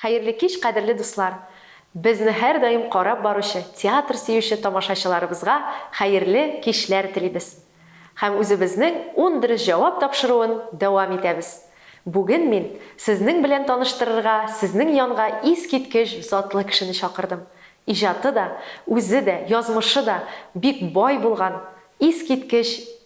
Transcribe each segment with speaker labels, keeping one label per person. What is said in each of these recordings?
Speaker 1: Хәерле кич, кадерле дуслар! Безне һәрдаим карап баручы, театр сөюче тамашачыларыбызга хәерле кичләр телибез. Һәм үзебезнең ун дөрес җавап тапшыруын дәвам итәбез. Бүген мин сезнең белән таныштырырга сезнең янга искиткеч затлы кешене чакырдым. Иҗаты да, үзе дә, язмышы да бик бай булган, искиткеч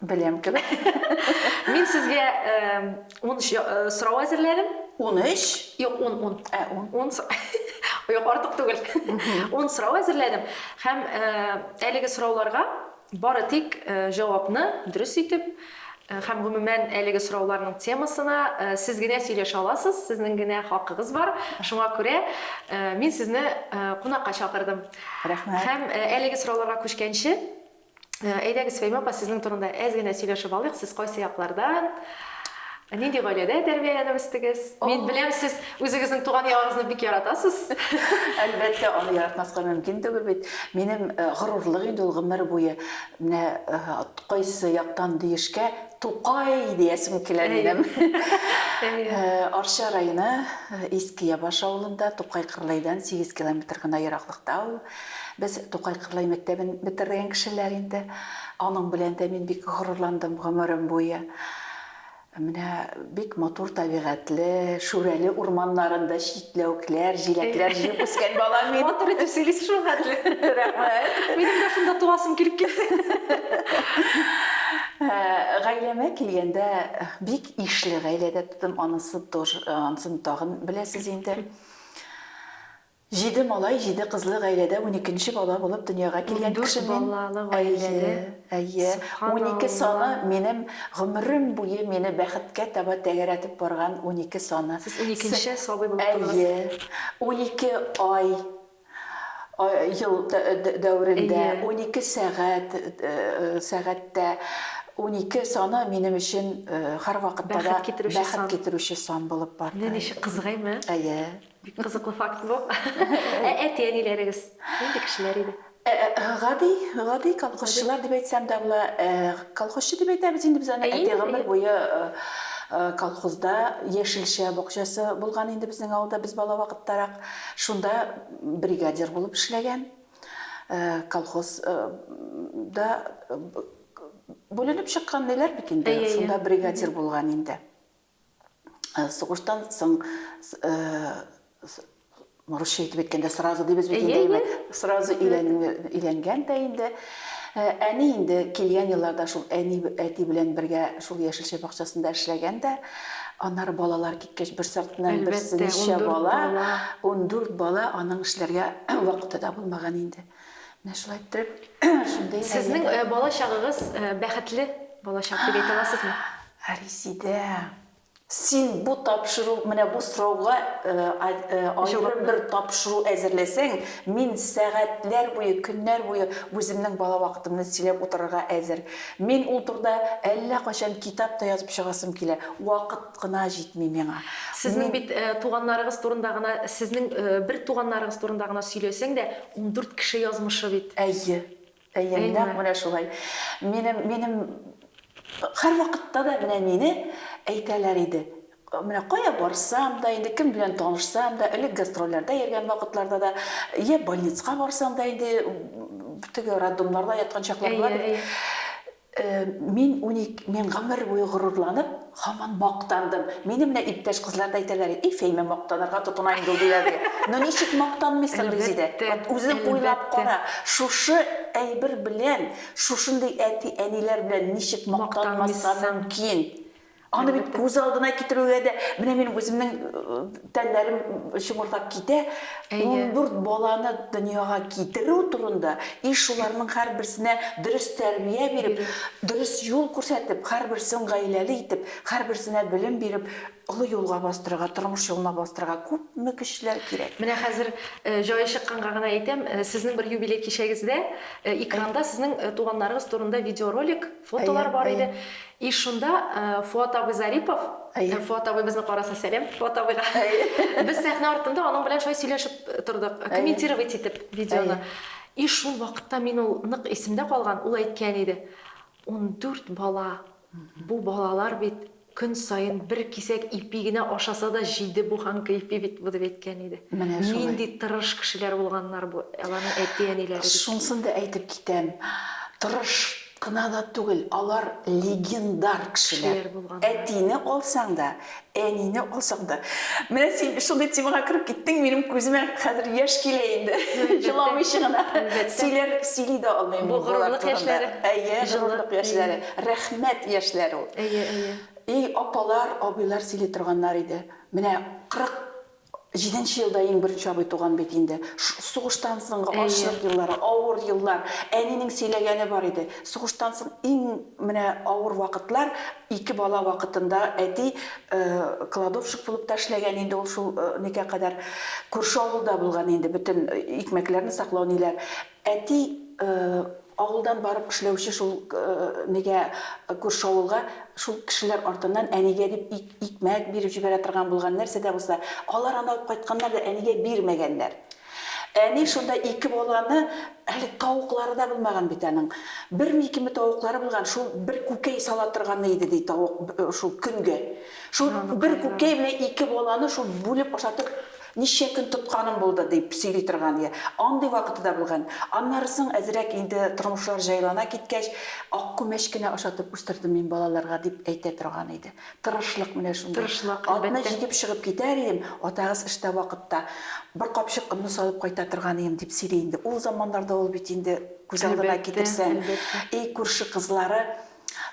Speaker 1: Беләм кебек.
Speaker 2: Мин
Speaker 1: сезгә ун э, сорау әзерләдем. Ун өч? Юк,
Speaker 2: ун, ун. Ә,
Speaker 1: ун.
Speaker 2: Ун Юк,
Speaker 1: артык түгел. Ун сорау әзерләдем. Һәм э, әлеге сорауларга бары тик э, җавапны дөрес итеп, һәм гомумән әлеге сорауларның темасына сез генә сөйләшә аласыз, сезнең генә хакыгыз бар. Шуңа күрә мин сезне кунакка чакырдым. Рәхмәт. Һәм
Speaker 2: әлеге
Speaker 1: сорауларга күчкәнче, Әйдәгез, Фәймә апа, сезнең турында әз генә сөйләшеп алыйк, сез кайсы яклардан, нинди гаиләдә тәрбияләнеп үстегез? Мин беләм, сез үзегезнең туган ягыгызны бик яратасыз. Әлбәттә,
Speaker 2: аны яратмаска мөмкин түгел бит. Минем горурлык инде ул гомер буе. Менә кайсы яктан диешкә, Тукай диясем килә минем. Арча районы Иске Ябаш авылында, Тукай-Кырлайдан сигез километр гына ераклыкта ул. Без Тукай Кырлай мәктәбен бетергән кешеләр инде. Аның белән дә мин бик горурландым гомерем буе. Менә бик матур табигатьле, Шүрәле урманнарында читләвекләр, җиләкләр җыеп үскән балам мин. Матур итеп сөйлисез шул
Speaker 1: хәтле. Рәхмәт. Минем дә шунда туасым килеп китте.
Speaker 2: Гаиләмә килгәндә, бик ишле гаиләдә тудым, анысы тоже, ансын тагын беләсез инде. Җиде малай, җиде кызлы гаиләдә уникенче бала булып дөньяга килгән кеше мин. Ундүрт балалы гаиләдә. Әйе,
Speaker 1: әйе.
Speaker 2: Унике саны, минем гомерем буе мине бәхеткә таба тәгәрәтеп барган унике саны. Сез уникенче сабый
Speaker 1: булып тудыгыз. Әйе.
Speaker 2: Унике ай, ел дәверендә, унике сәгать, сәгатьтә. Унике саны минем өчен һәрвакытта да бәхет китерүче сан булып барды. Менә ничек кызык, әйме?
Speaker 1: Әйе. Бик кызыклы факт бу. Ә әти-әниләрегез нинди кешеләр иде? Гади,
Speaker 2: гади колхозчылар дип әйтсәм дә була. Колхозчы дип әйтәбез инде без аны. Әйе, әйе. Әти гомер буе колхозда, яшелчә бакчасы булган инде безнең авылда, без бала вакыттарак шунда бригадир булып эшләгән. Колхоз да бүленеп чыккан диләр бит инде. Әйе, әйе. Шунда бригадир булган инде. сугыштан соң русча итеп әйткәндә сразу дибез бит инде әйбәт сразу өйләнгән дә инде әни инде килгән елларда шул әни әти белән бергә шул яшелчә бакчасында эшләгән дә аннары балалар киткәч бер сартыннан берсе ничә бала ундүрт бала аның эшләргә вакыты да булмаган инде менә шулай иттереп шундый сезнең бала
Speaker 1: чагыгыз бәхетле балачак дип әйтә аласызмы Ә Резидә,
Speaker 2: син бу тапшыру, менә бу сорауга аерым бер тапшыру әзерләсәң, мин сәгатьләр буе, көннәр буе үземнең бала вакытымны сөйләп утырырга әзер. Мин ул турыда әллә кайчан китап та язып чыгасым килә. Вакыт кына җитми миңа. Сезнең бит
Speaker 1: туганнарыгыз турында гына, сезнең бер туганнарыгыз турында гына сөйләсәң дә, ундүрт кеше язмышы бит. Әйе.
Speaker 2: Әйе, нәкъ менә шулай. Минем, минем һәрвакытта да менә мине әйтәләр иде. Менә кая барсам да, инде кем белән танышсам да, элек гастрольләрдә йөргән вакытларда да, йә больницага барсам да, инде теге роддомнарда яткан чакларда да, Мин унике, мин гомер буе горурланып, һаман мактандым. Мине менә иптәш кызлар да әйтәләр иде, Эй, Фәймә мактанырга тотына инде ул, диләр иде. Ну, ничек мактанмыйсың, Резидә? Вот үзең уйлап кара, шушы әйбер белән, шушындый әти-әниләр белән ничек мактанмаска мөмкин? Аны бит күз алдына китерүгә дә, менә минем үземнең тәннәрем чымырдап китә. 14 баланы дөньяга китерү турында и шуларның һәрберсенә дөрес тәрбия биреп, дөрес юл күрсәтеп, һәрберсен гаиләле итеп, һәрберсенә белем биреп, олы юлга бастырырга, тормыш юлына бастырырга күпме көчләр кирәк. Менә хәзер
Speaker 1: җае чыкканга гына әйтәм, сезнең бер юбилей кичәгездә экранда сезнең туганнарыгыз турында видеоролик, Фотолар бар иде. И шунда Фуат абый Зарипов, Фуат абый безне караса, сәлам Фуат абыйга. Без сәхнә артында аның белән шулай сөйләшеп тордык, комментировать итеп видеоны. И шул вакытта мин ул нык исемдә калган, ул әйткән иде, Ундүрт бала, бу балалар бит, Көн саен бер кисәк ипи генә ашаса да җиде буһан кыйпи бит бу, дип әйткән иде. Менә шулай. Нинди тырыш кешеләр булганнар бу аларның әти-әниләре бит. Шунысын да әйтеп
Speaker 2: китәм, тырыш кына да түгел, алар легендар кешеләр. Кешеләр булганнар. Әтине алсаң да, әнине алсаң да. Менә син шундый темага кереп киттең, минем күземә хәзер яшь килә инде. Җыламыйча гына. Әлбәттә. Сөйләр, сөйли дә алмыйм мин болар турында. Бу горурлык яшьләре.
Speaker 1: Әйе, горурлык
Speaker 2: яшьләре. Рәхмәт, яшьләр ул. Әйе, әйе. И
Speaker 1: апалар,
Speaker 2: абыйлар сөйли торганнар иде. Менә 47 нче елда иң беренче абый туган бит инде. Сугыштан соңгы ачлык еллары, авыр еллар. Әнинең сөйләгәне бар иде. Сугыштан соң иң менә авыр вакытлар, ике бала вакытында әти кладовщик булып та эшләгән инде ул шул никә кадәр. Күрше авылда булган инде бөтен икмәкләрне саклау ниләр. Әти авылдан барып эшләүче шул нигә күрше авылга шул кешеләр артыннан әнигә дип икмәк биреп җибәрә торган булган, нәрсә дә булса. Алар аны алып кайтканнар да әнигә бирмәгәннәр. Әни шунда ике баланы, әле тавыклары да булмаган бит аның. Берме-икеме тавыклары булган, шул бер күкәй сала торганы иде, ди, тавык шул көнгә. Шул бер күкәй белән ике баланы шул бүлеп ашатып Ничә көн тотканым булды, дип сөйли торган я андый вакыты да булган. Аннары соң әзрәк инде тормышлар җайлана киткәч, ак күмәч кенә ашатып үстердем мин балаларга, дип әйтә торган иде. Тырышлык менә шундый. Тырышлык, әлбәттә. Атны җигеп чыгып китәр идем, атагыз эштә вакытта бер капчык онны салып кайта торган идем, дип сөйли инде. Ул заманнарда ул бит инде күз алдына китерсәң, Әлбәттә, әлбәттә. И күрше кызлары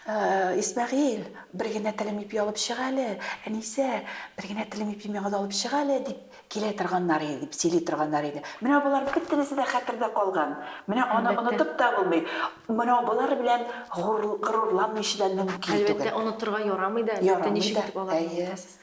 Speaker 2: Исмәгыйль, бер генә телем ипи алып чык әле, Әнисә, бер генә телем ипи миңа да алып чык әле, дип килә торганнар иде, дип сөйли торганнар иде. Менә болар бөтенесе дә хәтердә калган. Менә аны онытып та булмый. Менә болар белән горурланмыйчы да мөмкин түгел. Әлбәттә, онытырга ярамый
Speaker 1: да, әлбәттә, ничек итеп аларны онытасыз?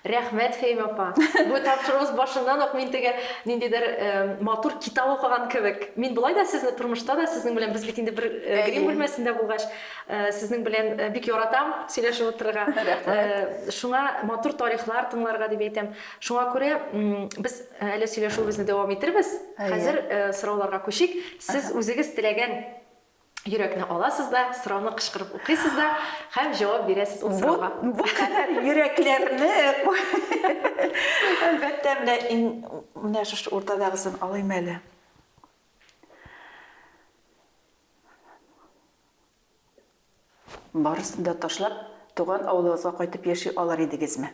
Speaker 1: Рәхмәт, Фәим апа! Бу тапшыруыбыз башыннан ук мин теге ниндидер матур китап укыган кебек. Мин болай да сезне тормышта да сезнең белән, без бит инде бер грим бүлмәсендә булгач, сезнең белән бик яратам сөйләшеп утырырга. Рәхмәт! Шуңа матур тарихлар тыңларга дип әйтәм. Шуңа күрә без әле сөйләшүебезне дәвам итербез. Хәзер сорауларга күчик. Сез үзегез теләгән Йөрәкне аласыз да, сорауны кычкырып укыйсыз да һәм җавап бирәсез ул сорауга. Бу, бу кадәр
Speaker 2: йөрәкләрне, әлбәттә, менә иң, менә шушы уртадагысын алыйм әле. Барысын да ташлап, туган авылыгызга кайтып яши алыр идегезме?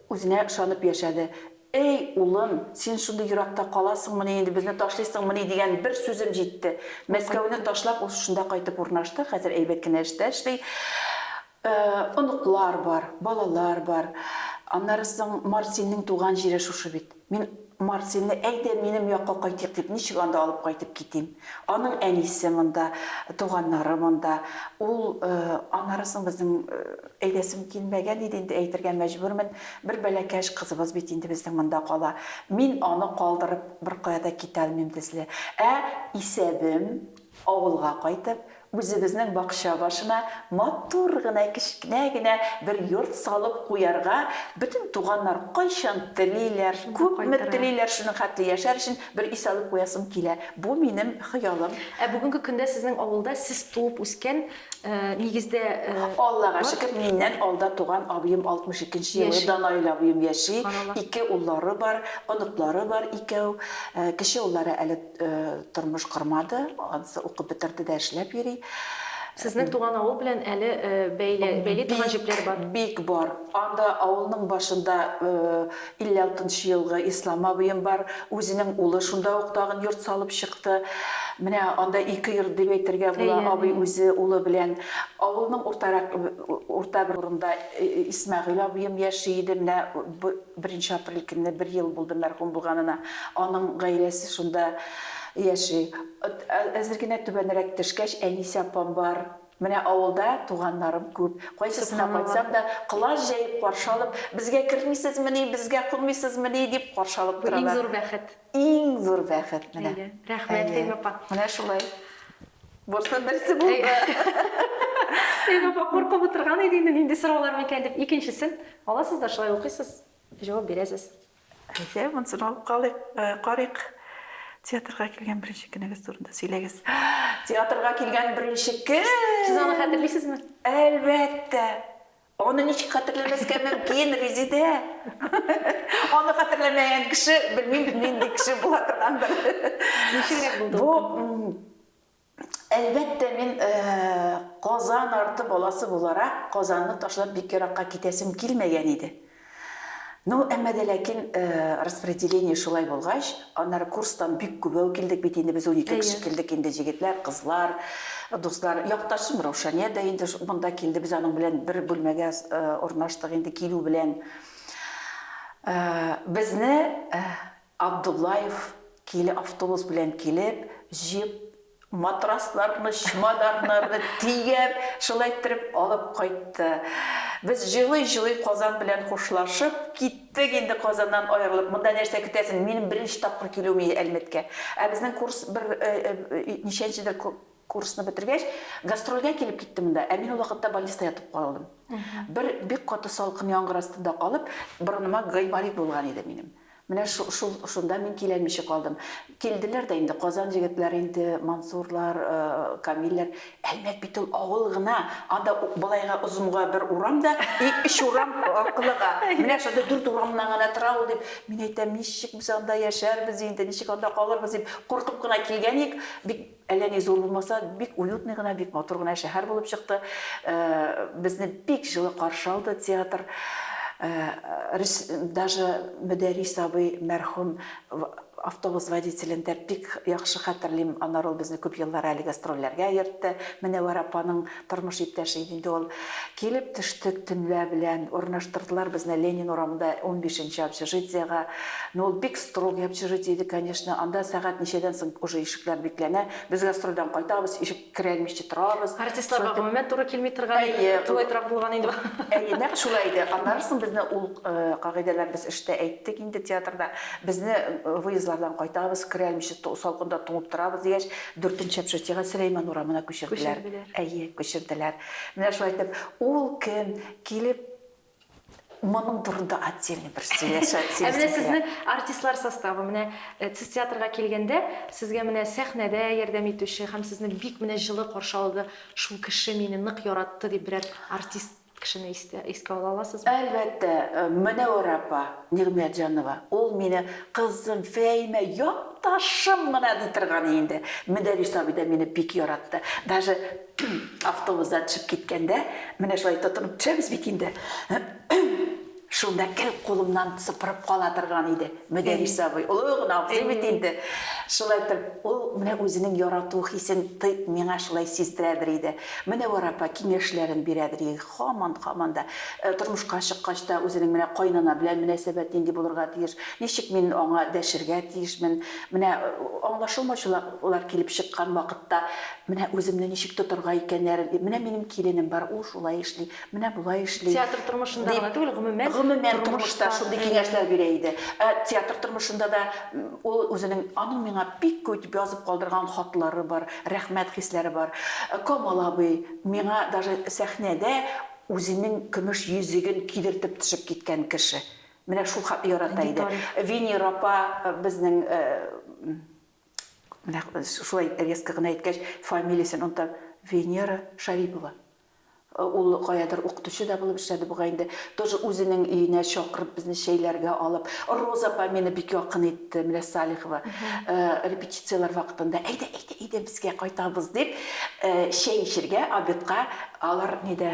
Speaker 2: Үзенә ышанып яшәде. Әй, улым, син шундый еракта каласыңмыни инде, безне ташлыйсыңмыни дигән бер сүзем җитте. Мәскәүне ташлап, ул шунда кайтып урнашты, хәзер әйбәт кенә эштә эшли. Оныклар бар, балалар бар. Аннары соң Марсинның туган җире шушы бит. Мин Марселне, әйдә, минем якка кайтыйк дип, ничек анда алып кайтып китим? Аның әнисе монда, туганнары монда. Ул, аннары соң безнең әйдәсем килмәгән иде инде, әйтергә мәҗбүрмен, бер бәләкәч кызыбыз бит инде безнең монда кала. Мин аны калдырып беркая да китә алмыйм, Дезле. Ә исәбем? Авылга кайтып, үзебезнең бакча башына матур гына кечкенә генә бер йорт салып куярга, бөтен туганнар кайчан телиләр, күпме телиләр, шуның хәтле яшәр өчен бер өй салып куясым килә. Бу минем хыялым. Ә бүгенге көндә
Speaker 1: сезнең авылда сез туып үскән, нигездә, бар? Аллага
Speaker 2: шөкер, миннән алда туган абыем 62 нче елгы Данаил абыем яши, ике уллары бар, оныклары бар икәү. Кече уллары әле Тормыш кормады, анысы укып бетерде дә эшләп йөри. Сезнең
Speaker 1: туган авыл белән әле бәйли торган җепләр бар? Бик бар.
Speaker 2: Анда авылның башында 56 нчы елгы Ислам абыем бар. Үзенең улы шунда ук тагын йорт салып чыкты. Менә анда ике йорт дип әйтергә була, абый үзе улы белән. Авылның уртарак, урта бер урында Исмәгыйль абыем яши иде, менә Беренче апрель көнне бер ел булды мәрхүм булганына. Аның гаиләсе шунда яши. Әзер генә түбәнрәк төшкәч, әнисе апам бар. Менә авылда туганнарым күп. Кайсысына кайтсам да, колач җәеп каршы алып, Безгә кермисезмени, безгә кунмыйсызмени? дип каршы алып торалар. Бу иң зур бәхет.
Speaker 1: Иң зур бәхет
Speaker 2: менә. Әйе, рәхмәт, Фәймә апа.
Speaker 1: Менә шулай.
Speaker 2: Бурсның берсе булды.
Speaker 1: Фәймә апа куркып утырган иде инде, нинди сораулар микән дип. Икенчесен аласыз да шулай укыйсыз, җавап бирәсез. Әйе, монысын
Speaker 2: алып калыйк, карыйк. Театрга килгән беренче көнегез турында сөйләгез. Театрга килгән беренче көн! Сез аны хәтерлисезме?
Speaker 1: Әлбәттә!
Speaker 2: Аны ничек хәтерләмәскә мөмкин, Резидә? Аны хәтерләмәгән кеше, белмим, нинди кеше була торгандыр. Ничегрәк
Speaker 1: булды? Бу,
Speaker 2: әлбәттә, мин Казан арты баласы буларак, Казанны ташлап бик еракка китәсем килмәгән иде. Ну, әмма дә ләкин, распределение шулай булгач, аннары курстан бик күбәү килдек бит инде без, унике кеше килдек инде, җегетләр, кызлар, дуслар. Якташым Раушания дә инде монда килде, без аның белән бер бүлмәгә урнаштык инде килү белән. Безне Абдуллаев киле автобус белән килеп, җеп, матрасларны, чемоданнарны төяп, шулай иттереп алып кайтты. Без җылый-җылый Казан белән хушлашып, киттек инде Казаннан аерылып. Монда нәрсә көтәсең, минем беренче тапкыр килүем иде Әлмәткә. Ә безнең курс бер ничәнчедер курсны бетергәч, гастрольгә килеп китте монда, ә мин ул вакытта больниста ятып калдым. Бер бик каты салкын яңгыр астында калып, борыныма гайморит булган иде минем. Менә шул шунда мин киләлмичә калдым. Килделәр дә инде, Казан җегетләре инде, Мансурлар, Камилләр. Әлмәт бит ул авыл гына, анда былайга озынга бер урам да, и өч урам аркылыга. Менә шундый дүрт урамнан гына тора ул, дип, мин әйтәм, ничек без анда яшәрбез инде, ничек анда калырбыз, дип куркып кына килгән идек. Бик Әллә ни зур булмаса, бик уютный гына, бик матур гына шәһәр булып чыкты. Безне бик җылы каршы алды театр. Даже Мөдәрис абый мәрхүм автобус водителен дә бик яхшы хәтерлим. Аннары ул безне күп еллар әле гастрольләргә йөртте. Мөнәвәр апаның Тормыш иптәше иде инде ул. Килеп төштек төнлә белән. Урнаштырдылар безне Ленин урамында унбишенче общежитиега. Ну, ул бик строгый общежитие иде, конечно. Анда сәгать ничәдән соң уже ишекләр бикләнә. Без гастрольдән кайтабыз, ишек керәлмичә торабыз. Артистларга гомумән туры
Speaker 1: килми торган тулайтрак булган инде бу. Әйе, нәкъ шулай
Speaker 2: иде. Аннары соң безне ул кагыйдәләр без эштә әйттек инде театрда. Безне выездлардан кайтабыз, керәлмичә салкында туңып торабыз дигәч, Дүртенче общежитиегә, Сөләйман урамына күчерделәр. Күчерделәр. Әйе, күчерделәр. Менә шулай итеп, ул көн килеп, моның турында отдельный бер сөйләшә, сөйләшәсе килә. Ә менә сезнең
Speaker 1: артистлар составы, менә сез театрга килгәндә, сезгә менә сәхнәдә ярдәм итүче һәм сезне бик менә җылы каршы алды, шул кеше мине нык яратты дип берәр артист? Кешене истә, искә ала аласызмы? Әлбәттә,
Speaker 2: Мөнәвәрә апа Нигъмәтҗанова, ул мине, Кызым, Фәимә, якташым гына ди торган инде. Мөдәррис абый да мине бик яратты. Даже автобустан төшеп киткәндә, менә шулай тотынып төшәбез бит инде. Шунда кел кулымнан сыпырып кала торган иде, Мөдәрис абый, олы гына абзый бит инде. Шулай итеп, ул менә үзенең ярату хисен миңа шулай сиздерәдер иде. Мөнәвәр апа киңәшләрен бирәдер иде, һаман, һаман да. Тормышка чыккач та, үзенең менә кайнана белән мөнәсәбәт нинди булырга тиеш, ничек мин аңа дәшергә тиешмен, менә аңлашылмаучылыклар килеп чыккан вакытта, менә үземне ничек тотарга икәннәрен, менә минем киленем бар, ул шулай эшли, Менә болай эшли. Театр тормышында гына
Speaker 1: түгел, гомумән, гомумән тормышта
Speaker 2: шундый киңәшләр бирә иде. Ә театр тормышында да ул үзенең, аның миңа бик күп итеп язып калдырган хатлары бар, рәхмәт хисләре бар. Камал абый миңа даже сәхнәдә үзенең көмеш йөзеген кидертеп төшеп киткән кеше. Менә шул хәтле ярата иде. Венера апа безнең, менә шулай резко гына әйткәч, фамилиясен онытам, Венера Шарипова. Ул каядыр укытучы да булып эшләде бугай инде. Тоже үзенең өенә чакырып, безне чәйләргә алып. Роза апа мине бик якын итте, менә Салихова. Репетицияләр вакытында, әйдә, әйдә, әйдә, безгә кайтабыз, дип, чәй эчергә, обедка. Алар нидә,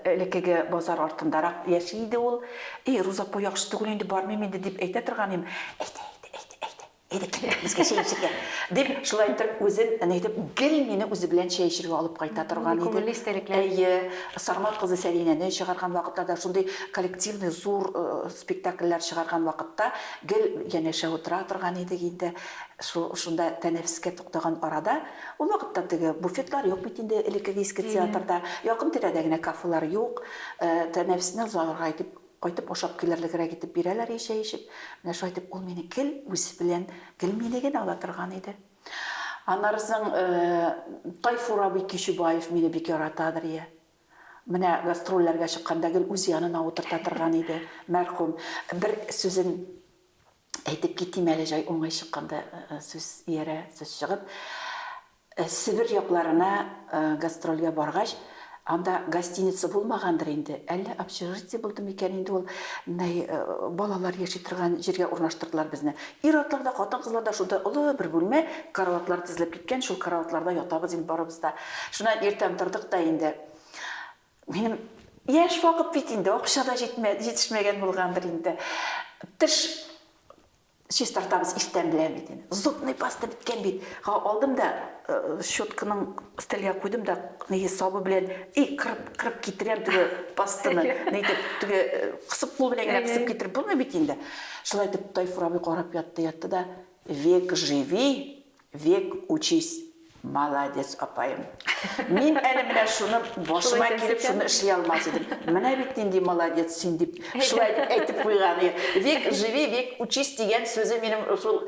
Speaker 2: элеккеге базар артындарак яши иде ул. И, Роза апа яхшы түгел инде, бармыйм инде, дип әйтә торган идем. Әйдә, әйдә, әйдә, әйдә. Әйдә, китик, безгә чәй эчәргә, дип, шулай итеп, үзен, әнә әйтеп, гел мине үзе белән чәй эчәргә алып кайта торган иде. Күңелле истәлекләр. Әйе,
Speaker 1: Сармат кызы
Speaker 2: Сәлинәне чыгарган вакытларда, шундый коллективный зур спектакльләр чыгарган вакытта гел янәшә утыра торган идек инде. Шунда тәнәфескә туктаган арада, ул вакытта теге буфетлар юк бит инде, элеккеге иске театрда, якын-тирәдә генә кафелар юк, тәнәфесне озалырга итеп, Кайтып ашап килерлегрәк итеп бирәләр ич чәй эчеп. Менә шулай итеп ул мине гел үзе белән, гел мине генә ала торган иде. Аннары соң Тайфур абый Кичүбаев мине бик яратадыр, йә. Менә гастрольләргә чыкканда гел үз янына утырта торган иде, мәрхүм. Бер сүзен әйтеп китим әле, җай уңай чыкканда сүз иярә, сүз чыгып. Себер якларына гастрольгә баргач, анда гостиница булмагандыр инде, әллә общежитие булды микән инде ул, менә балалар яши торган җиргә урнаштырдылар безне. Ир-атлар да, хатын-кызлар да шунда олы бер бүлмә, караватлар тезелеп киткән, шул караватларда ятабыз инде барыбыз да. Шуннан иртән тордык та инде. Минем яшь вакыт бит инде, акча да җитмә, җитешмәгән булгандыр инде. Теш Чистартабыз иртән белән бит инде. Зубный паста беткән бит. Га алдым да, щетканың стельгә куйдым да, нигез сабы белән и кырып, кырып китерәм теге пастаны. Нитеп, теге кысып кул белән генә кысып китереп булмый бит инде. Шулай итеп Тайфур абый карап ятты, ятты да, век живи! Век учись! Молодец апаем! Мин әле менә шуны башыма килеп шуны эшли алмас идем. Менә бит нинди молодец син дип шулай әйтеп куйган. Век живи, век учись дигән сүзе минем шул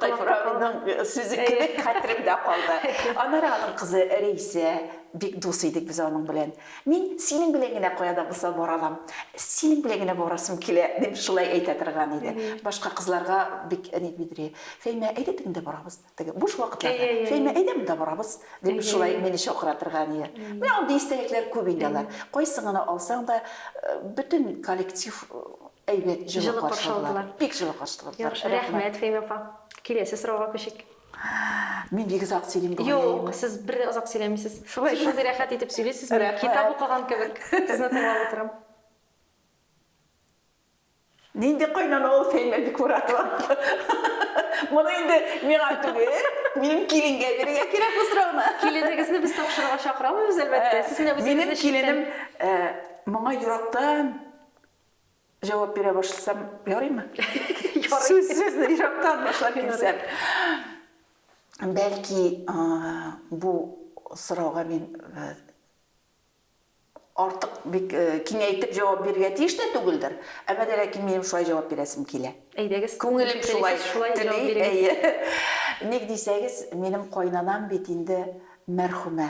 Speaker 2: Тайфураның сүзе кебек хәтеремдә калды. Аннары аның кызы Рәйсә, бик дус идек без аның белән. Мин синең белән генә кая да булса бара алам. Синең белән генә барасым килә, дип шулай әйтә торган иде. Башка кызларга бик ник бедри. Фәймә, әйдә теге дә барабыз. Теге буш вакытларда, Фәймә, әйдә монда барабыз, дип шулай мине чакыра торган иде. Менә андый истәлекләр күп инде алар. Кайсын гына алсаң да, бөтен коллектив Әйбәт, җылы каршыладылар. Бик җылы каршыладылар. Яхшы, рәхмәт, Фәймә апа.
Speaker 1: Киләсе сорауга күчик. Мин
Speaker 2: бик озак сөйлим бу Юк, сез бер дә озак
Speaker 1: сөйләмисез. Шулай шундый рәхәт итеп сөйлисез, мин китап укыган кебек сезне тыңлап утырам.
Speaker 2: Нинди кайнана ул Фәймә Бикмуратова? Моны инде миңа түгел, минем киленгә бирергә кирәк бу сорауны. Киленегезне без тапшырырга
Speaker 1: чакырамыз, әлбәттә. Сез менә үзегезне Минем киленем
Speaker 2: моңа йөрәктән Җавап бирә башласам ярыймы? Ярый. Сүзне ерактан башлап килсәм. Бәлки, бу сорауга мин артык бик киңәйтеп җавап бирергә тиеш тә түгелдер. Әмма дә ләкин минем шулай җавап бирәсем килә. Әйдәгез. Күңелем
Speaker 1: шулай
Speaker 2: тели. Әйе. Ник дисәгез, минем кайнанам бит инде мәрхүмә.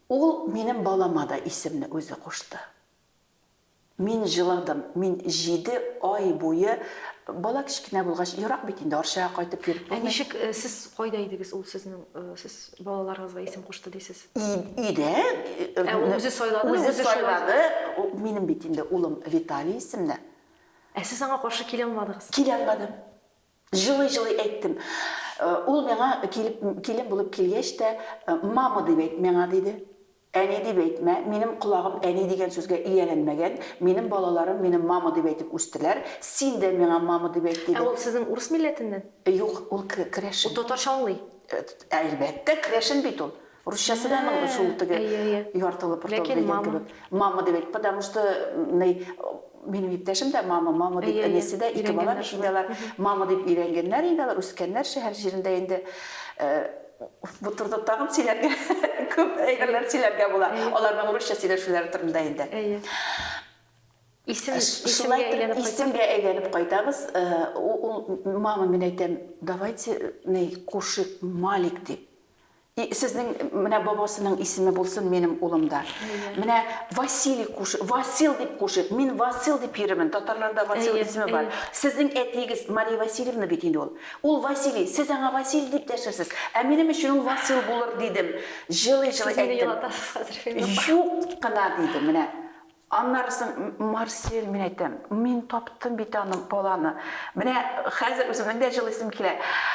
Speaker 2: Ул минем балама да исемне үзе кушты. Мин җыладым, мин җиде ай буе, бала кечкенә булгач, ерак бит инде, Арчага кайтып йөреп булмый. Ә ничек сез кайда
Speaker 1: идегез, ул сезнең, сез балаларыгызга исем кушты дисез? Өйдә.
Speaker 2: Ә ул үзе
Speaker 1: сайладымы? Үзе сайлады,
Speaker 2: минем бит инде улым Виталий исемне. Ә сез аңа
Speaker 1: каршы килә алмадыгыз? Килә алмадым.
Speaker 2: Җылый-җылый әйттем. Ул миңа килеп, килен булып килгәч тә, Мама дип әйт миңа, диде. Әни дип әйтмә, минем колагым әни дигән сүзгә ияләнмәгән, минем балаларым мине мама дип әйтеп үстеләр, син дә миңа мама дип әйт, диде. Ә ул сезнең урыс милләтеннән?
Speaker 1: Юк, ул
Speaker 2: керәшен. Ул татарча аңлый?
Speaker 1: Әлбәттә,
Speaker 2: керәшен бит ул. Русчасы да аның шул теге яртылы портал дигән кебек. Мама дип әйт, потому что минем иптәшем дә мама, мама дип әнисе дә ике бала бит инде алар. Мама дип өйрәнгәннәр инде алар, үскәннәр шәһәр җирендә инде. Бу турыда тагын сөйләргә күп әйберләр сөйләргә була. Аларның русча сөйләшүләре турында инде. Әйе. Исем исемгә әйләнеп кайтабыз. Исемгә әйләнеп кайтабыз. Мама, мин әйтәм, давайте кушыйк Малик дип. И сезнең менә бабасының исеме булсын минем улым да. Менә Василий куш, Васил дип кушыйк. Мин Васил дип йөремен, татарларда Васил исеме бар. Сезнең әтиегез Мария Васильевна бит инде ул. Ул Василий, сез аңа Василий дип дәшерсез. Ә минем өчен ул Васил булыр, дидем. Җылый-җылый әйттем. Сез мине елатасыз хәзер, Фәйзулла апа. Юк кына, диде, менә. Аннары соң, Марсель, мин әйтәм, мин таптым бит аны, баланы. Менә хәзер үземнең дә җылыйсым килә.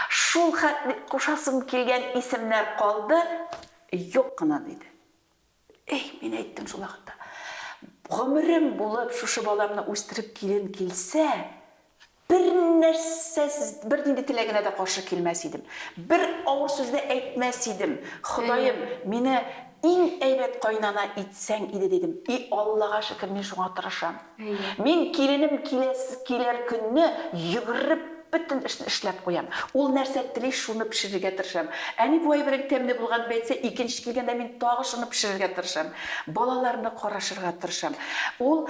Speaker 2: Шул хәт бит, кушасым килгән исемнәр калды, юк кына, диде. Эй, мин әйттем шул вакытта, гомерем булып шушы баламны үстереп килем килсә, Бернәрсә, бернинди теләгенә дә каршы килмәс идем. Бер авыр сүз дә әйтмәс идем. Ходаем, мине иң әйбәт кайнана итсәң иде, дидем. И Аллага шөкер, мин шуңа тырышам. Мин киленем киләр көнне йөгереп бөтен эшне эшләп куям. Ул нәрсә тели, шуны пешерергә тырышам. Әни бу әйбернең тәмле булган дип әйтсә, икенче килгәндә мин тагы шуны пешерергә тырышам. Балаларны карашырга тырышам. Ул.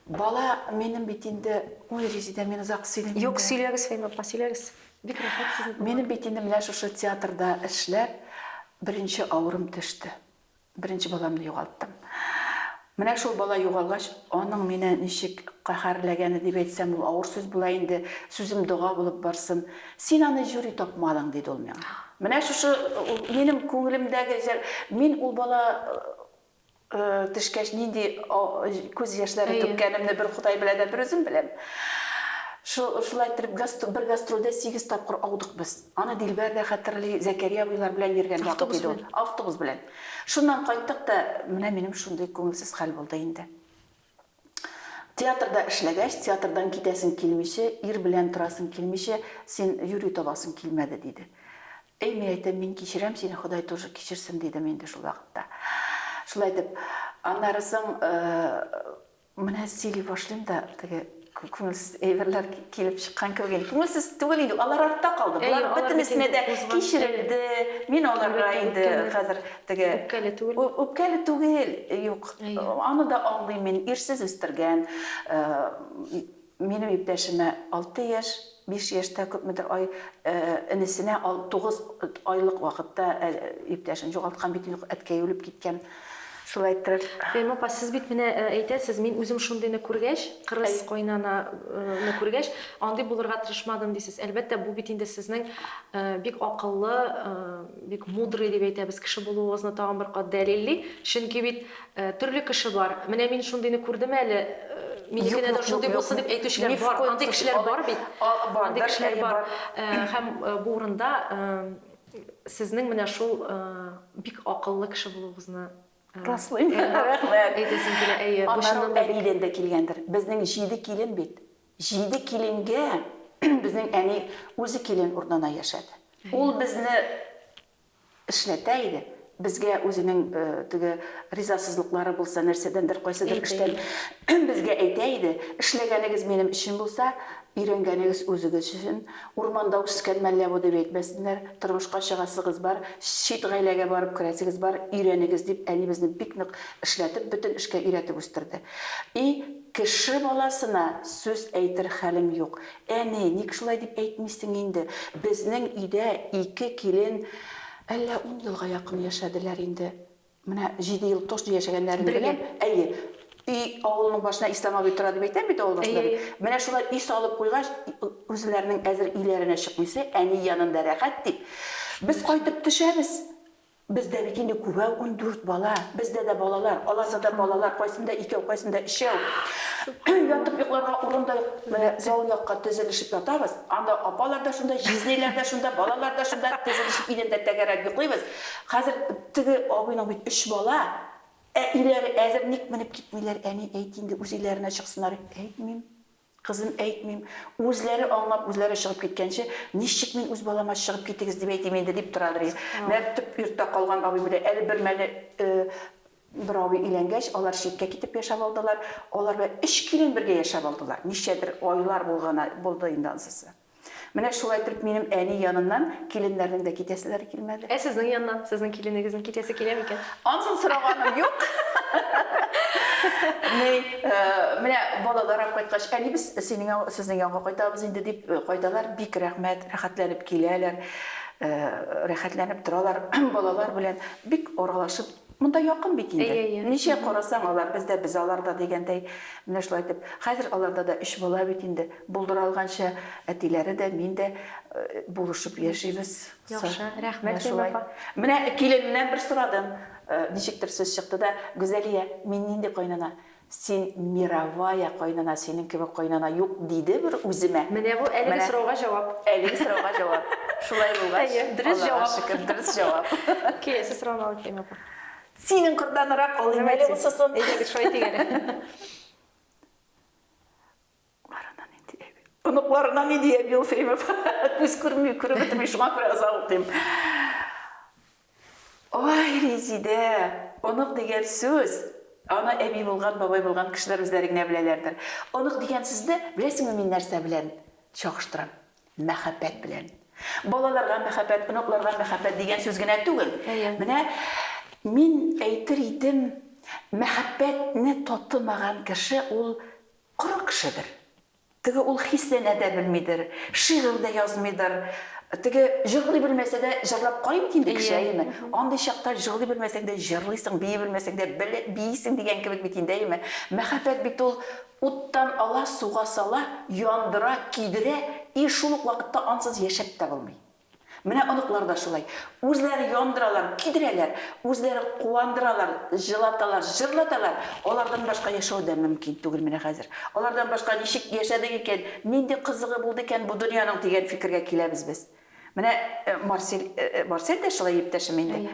Speaker 2: Бала, минем бит инде, ой, Резидә, мин озак сөйлим инде. Юк, сөйләгез, Фәймә апа,
Speaker 1: сөйләгез. Бик рәхәт сезнең булган. Минем бит инде менә шушы
Speaker 2: театрда эшләп, беренче авырым төште. Беренче баламны югалттым. Менә шул бала югалгач, аның мине ничек каһәрләгәне дип әйтсәм, ул авыр сүз була инде, сүзем дога булып барсын. Син аны юри тапмадың, диде ул миңа. Менә шушы минем күңелемдәге, мин ул бала Төшкәч, нинди күз яшьләре түккәнемне бер Ходай белә дә, бер үзем беләм. Шулай иттереп, бер гастрольдә сигез тапкыр аудык без. Аны Дилбәр дә хәтерли, Зәкәрия абыйлар белән йөргән вакыт иде ул. Автобус белән. Шуннан кайттык та, менә минем шундый күңелсез хәл булды инде. Театрда эшләгәч, театрдан китәсең килмичә, ир белән торасың килмичә, син юри табасың килмәде, диде. Әй, мин әйтәм, мин кичерәм сине, Ходай тоже кичерсен, дидем инде шул вакытта. Шулай итеп, аннары соң, менә сөйли башлыйм да, теге Күңелсез әйберләр килеп чыккан кебек инде. Күңелсез түгел инде, алар артта калды. Болар бөтенесенә дә кичерелде. Мин аларга инде хәзер теге үпкәле түгел. Үпкәле түгел, юк. Аны да аңлыйм мин, ирсез үстергән. Минем иптәшемә алты яшь. Биш яшьтә күпмедер ай энесенә тугыз айлык вакытта иптәшен югалткан бит инде, әткәе үлеп киткән. Шулай иттереп. Фәймә апа, сез бит
Speaker 1: менә әйтәсез, мин үзем шундыйны күргәч, кырыс кайнананы күргәч, андый булырга тырышмадым дисез. Әлбәттә, бу бит инде сезнең бик акыллы, бик мудрый дип әйтәбез, кеше булуыгызны тагын бер кат дәлилли. Чөнки бит Төрле кеше бар. Менә мин шундыйны күрдем әле, минекенә дә шундый булсын дип әйтүчеләр бар. Андый кешеләр бар бит. Андый кешеләр бар. Һәм бу урында сезнең менә шул бик акыллы кеше булуыгызны раслыйм.
Speaker 2: Рәхмәт. Әйтәсем килә, әйе.
Speaker 1: Бу чыннан да әнидән дә
Speaker 2: килгәндер. Безнең җиде килен бит. Җиде киленгә безнең әни үзе килен урынына яшәде. Ул безне эшләтә иде, безгә үзенең теге ризасызлыклары булса, нәрсәдәндер, кайсыдыр эштән безгә әйтә иде, Эшләгәнегез минем өчен булса, өйрәнгәнегез үзегез өчен, урманда үскән мәллә бу дип әйтмәсеннәр, тормышка чыгасыгыз бар, чит гаиләгә барып керәсегез бар, өйрәнегез, дип әни безне бик нык эшләтеп, бөтен эшкә өйрәтеп үстерде. И кеше баласына сүз әйтер хәлем юк. Әни, ник шулай дип әйтмисең инде? Безнең өйдә ике килен әллә ун елга якын яшәделәр инде. Менә җиде ел точно яшәгәннәрен беләм. Бергә? Әйе. Өй, авылның башына Ислам абый тора дип әйтәм бит, авыл башында бит. Әйе-әйе. Менә шулай өй салып куйгач, үзләренең әзер өйләренә чыкмыйсы, әни янында рәхәт дип, без кайтып төшәбез. Бездә бит инде күбәү ундүрт бала. Бездә дә балалар, аласада балалар, кайсында икәү, кайсында өчәү. Ятып йокларга урын да юк. Менә зал якка тезелешеп ятабыз. Анда апалар да шунда, җизниләр дә шунда, балалар да шунда, тезелешеп идәндә тәгәрәп йоклыйбыз. Хәзер теге абыйның бит өч бала. Әтиләре әзер, ник менеп китмиләр, әни, әйт инде, үзеләренә чыксыннар. Әйтмим. Кызым, әйтмим. Үзләре аңлап, үзләре чыгып киткәнче, ничек мин үз балама чыгып китегез дип әйтим инде, дип торадыр иде. Мәктүп йортта калган абый белән әле бер мәле бер абый өйләнгәч, алар читкә китеп яшәп алдылар. Алар белән өч килен бергә яшәп алдылар. Ничәдер айлар булган булды инде ансысы. Менә шулай итеп минем әни яныннан киленнәрнең дә китәселәре килмәде. Ә сезнең яннан сезнең
Speaker 1: киленегезнең китәсе килә микән? Ансын сораганым
Speaker 2: юк. Ни, менә балалар алып кайткач, әнибез синең яңа, сезнең янга кайтабыз инде дип кайталар, бик рәхмәт, рәхәтләнеп киләләр, рәхәтләнеп торалар балалар белән, бик аралашып. Монда якын бит инде. Әйе, әйе. Ничә карасаң, алар без дә, без алар да дигәндәй, менә шулай итеп. Хәзер аларда да өч бала бит инде. Булдыра алганча, әтиләре дә, мин дә булышып яшибез. Яхшы, рәхмәт,
Speaker 1: Ләйлә апа. Менә
Speaker 2: киленнән бер сорадым, ничектер сүз чыкты да, Гүзәлия, мин нинди кайнана? Син мировая кайнана, синең кебек кайнана юк, диде бер үземә. Менә бу әлеге сорауга
Speaker 1: җавап. Әлеге сорауга җавап.
Speaker 2: Шулай булгач, Аллага шөкер,
Speaker 1: дөрес җавап.
Speaker 2: Киләсе сорауны
Speaker 1: алып киләм, апа. Синең кырданыграк
Speaker 2: алыйм әле, усысын. Әйдәгез, шулай итик әле.
Speaker 1: Улларына
Speaker 2: нинди әби? Оныкларына нинди әби ул Фәймов? Күз күрми, күреп бетерми, шуңа күрә озак укыйм. Ой, Резидә, онык дигән сүз, аны әби булган, бабай булган кешеләр үзләре генә беләләрдер. Онык дигән сүзне беләсеңме мин нәрсә белән чагыштырам? Мәхәббәт белән. Балаларга мәхәббәт, оныкларга мәхәббәт дигән сүз генә түгел. Менә мин әйтер идем, мәхәббәтне татымаган кеше ул Коры кешедер. Теге ул хисләнә дә белмидер, шигырь дә язмыйдыр. Теге җырлый белмәсә дә, җырлап карый бит инде кеше, әйеме? Андый чакта җырлый белмәсәң дә җырлыйсың, бии белмәсәң дә биисең дигән кебек бит инде, әйеме? Мәхәббәт бит ул уттан ала, суга сала, яндыра, көйдерә и шул ук вакытта ансыз яшәп тә булмый. Менә оныклар да шулай. Үзләре яндыралар, көйдерәләр, үзләре куандыралар, җылаталар, җырлаталар. Алардан башка яшәү дә мөмкин түгел менә хәзер. Алардан башка ничек яшәдек икән, нинди кызыгы булды икән бу дөньяның дигән фикергә киләбез без. Менә Марсель, Марсель дә шулай, иптәшем, инде.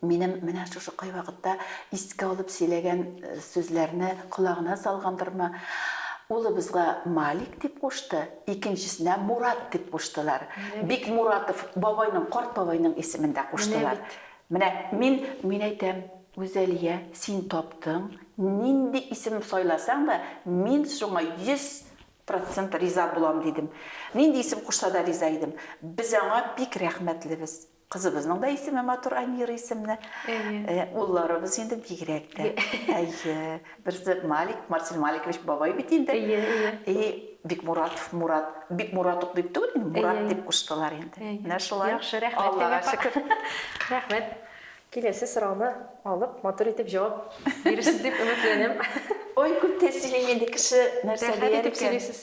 Speaker 2: Минем менә шушы кайвакытта искә алып сөйләгән сүзләрне колагына салгандырмы, улыбызга Малик дип кушты, икенчесенә Мурат дип куштылар. Бик Муратов бабайның, карт бабайның исемен дә куштылар. Менә мин, мин әйтәм, Гүзәлия, син таптың, нинди исем сайласаң да, мин шуңа 100 процент риза булам, дидем. Нинди исем кушса да риза идем. Без аңа бик рәхмәтлебез. Кызыбызның да исеме матур, Аймира исемле. Әйе. Улларыбыз инде бигрәк тә. Әйе. Берсе Малик, Марсель Маликович бабай бит инде. Әйе, әйе. И Бикмуратов Мурат. Бикмурат ук дип түгел, Мурат дип куштылар инде. Менә шулай. Яхшы, рәхмәт. Аллага
Speaker 1: шөкер.
Speaker 2: Рәхмәт.
Speaker 1: Киләсе сорауны алып, матур итеп җавап бирерсез дип өметләнәм. Ой, күп
Speaker 2: тәэсилим инде, кеше нәрсә дияр икән. Рәхәт итеп сөйлисез.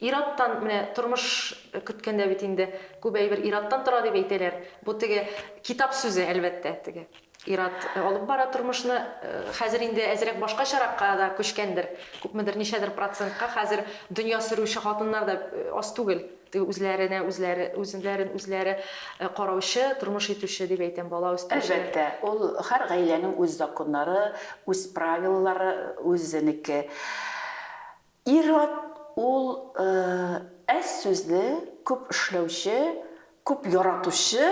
Speaker 1: Ир-аттан, менә тормыш көткәндә бит инде күп әйбер ир-аттан тора дип әйтәләр. Бу теге китап сүзе, әлбәттә, теге ир-ат алып бара тормышны. Хәзер инде әзрәк башкачаракка да күчкәндер, күпмедер, ничәдер процентка хәзер дөнья сөрүче хатыннар да аз түгел. Теге үзләренә үзләре, үзләрен үзләре караучы, тормыш итүче, дип әйтәм, бала үстерүчеләр. Әлбәттә, ул һәр
Speaker 2: гаиләнең үз законнары, үз правилалары, үзенеке. Ир-ат ул әз сүзле, күп эшләүче, күп яратучы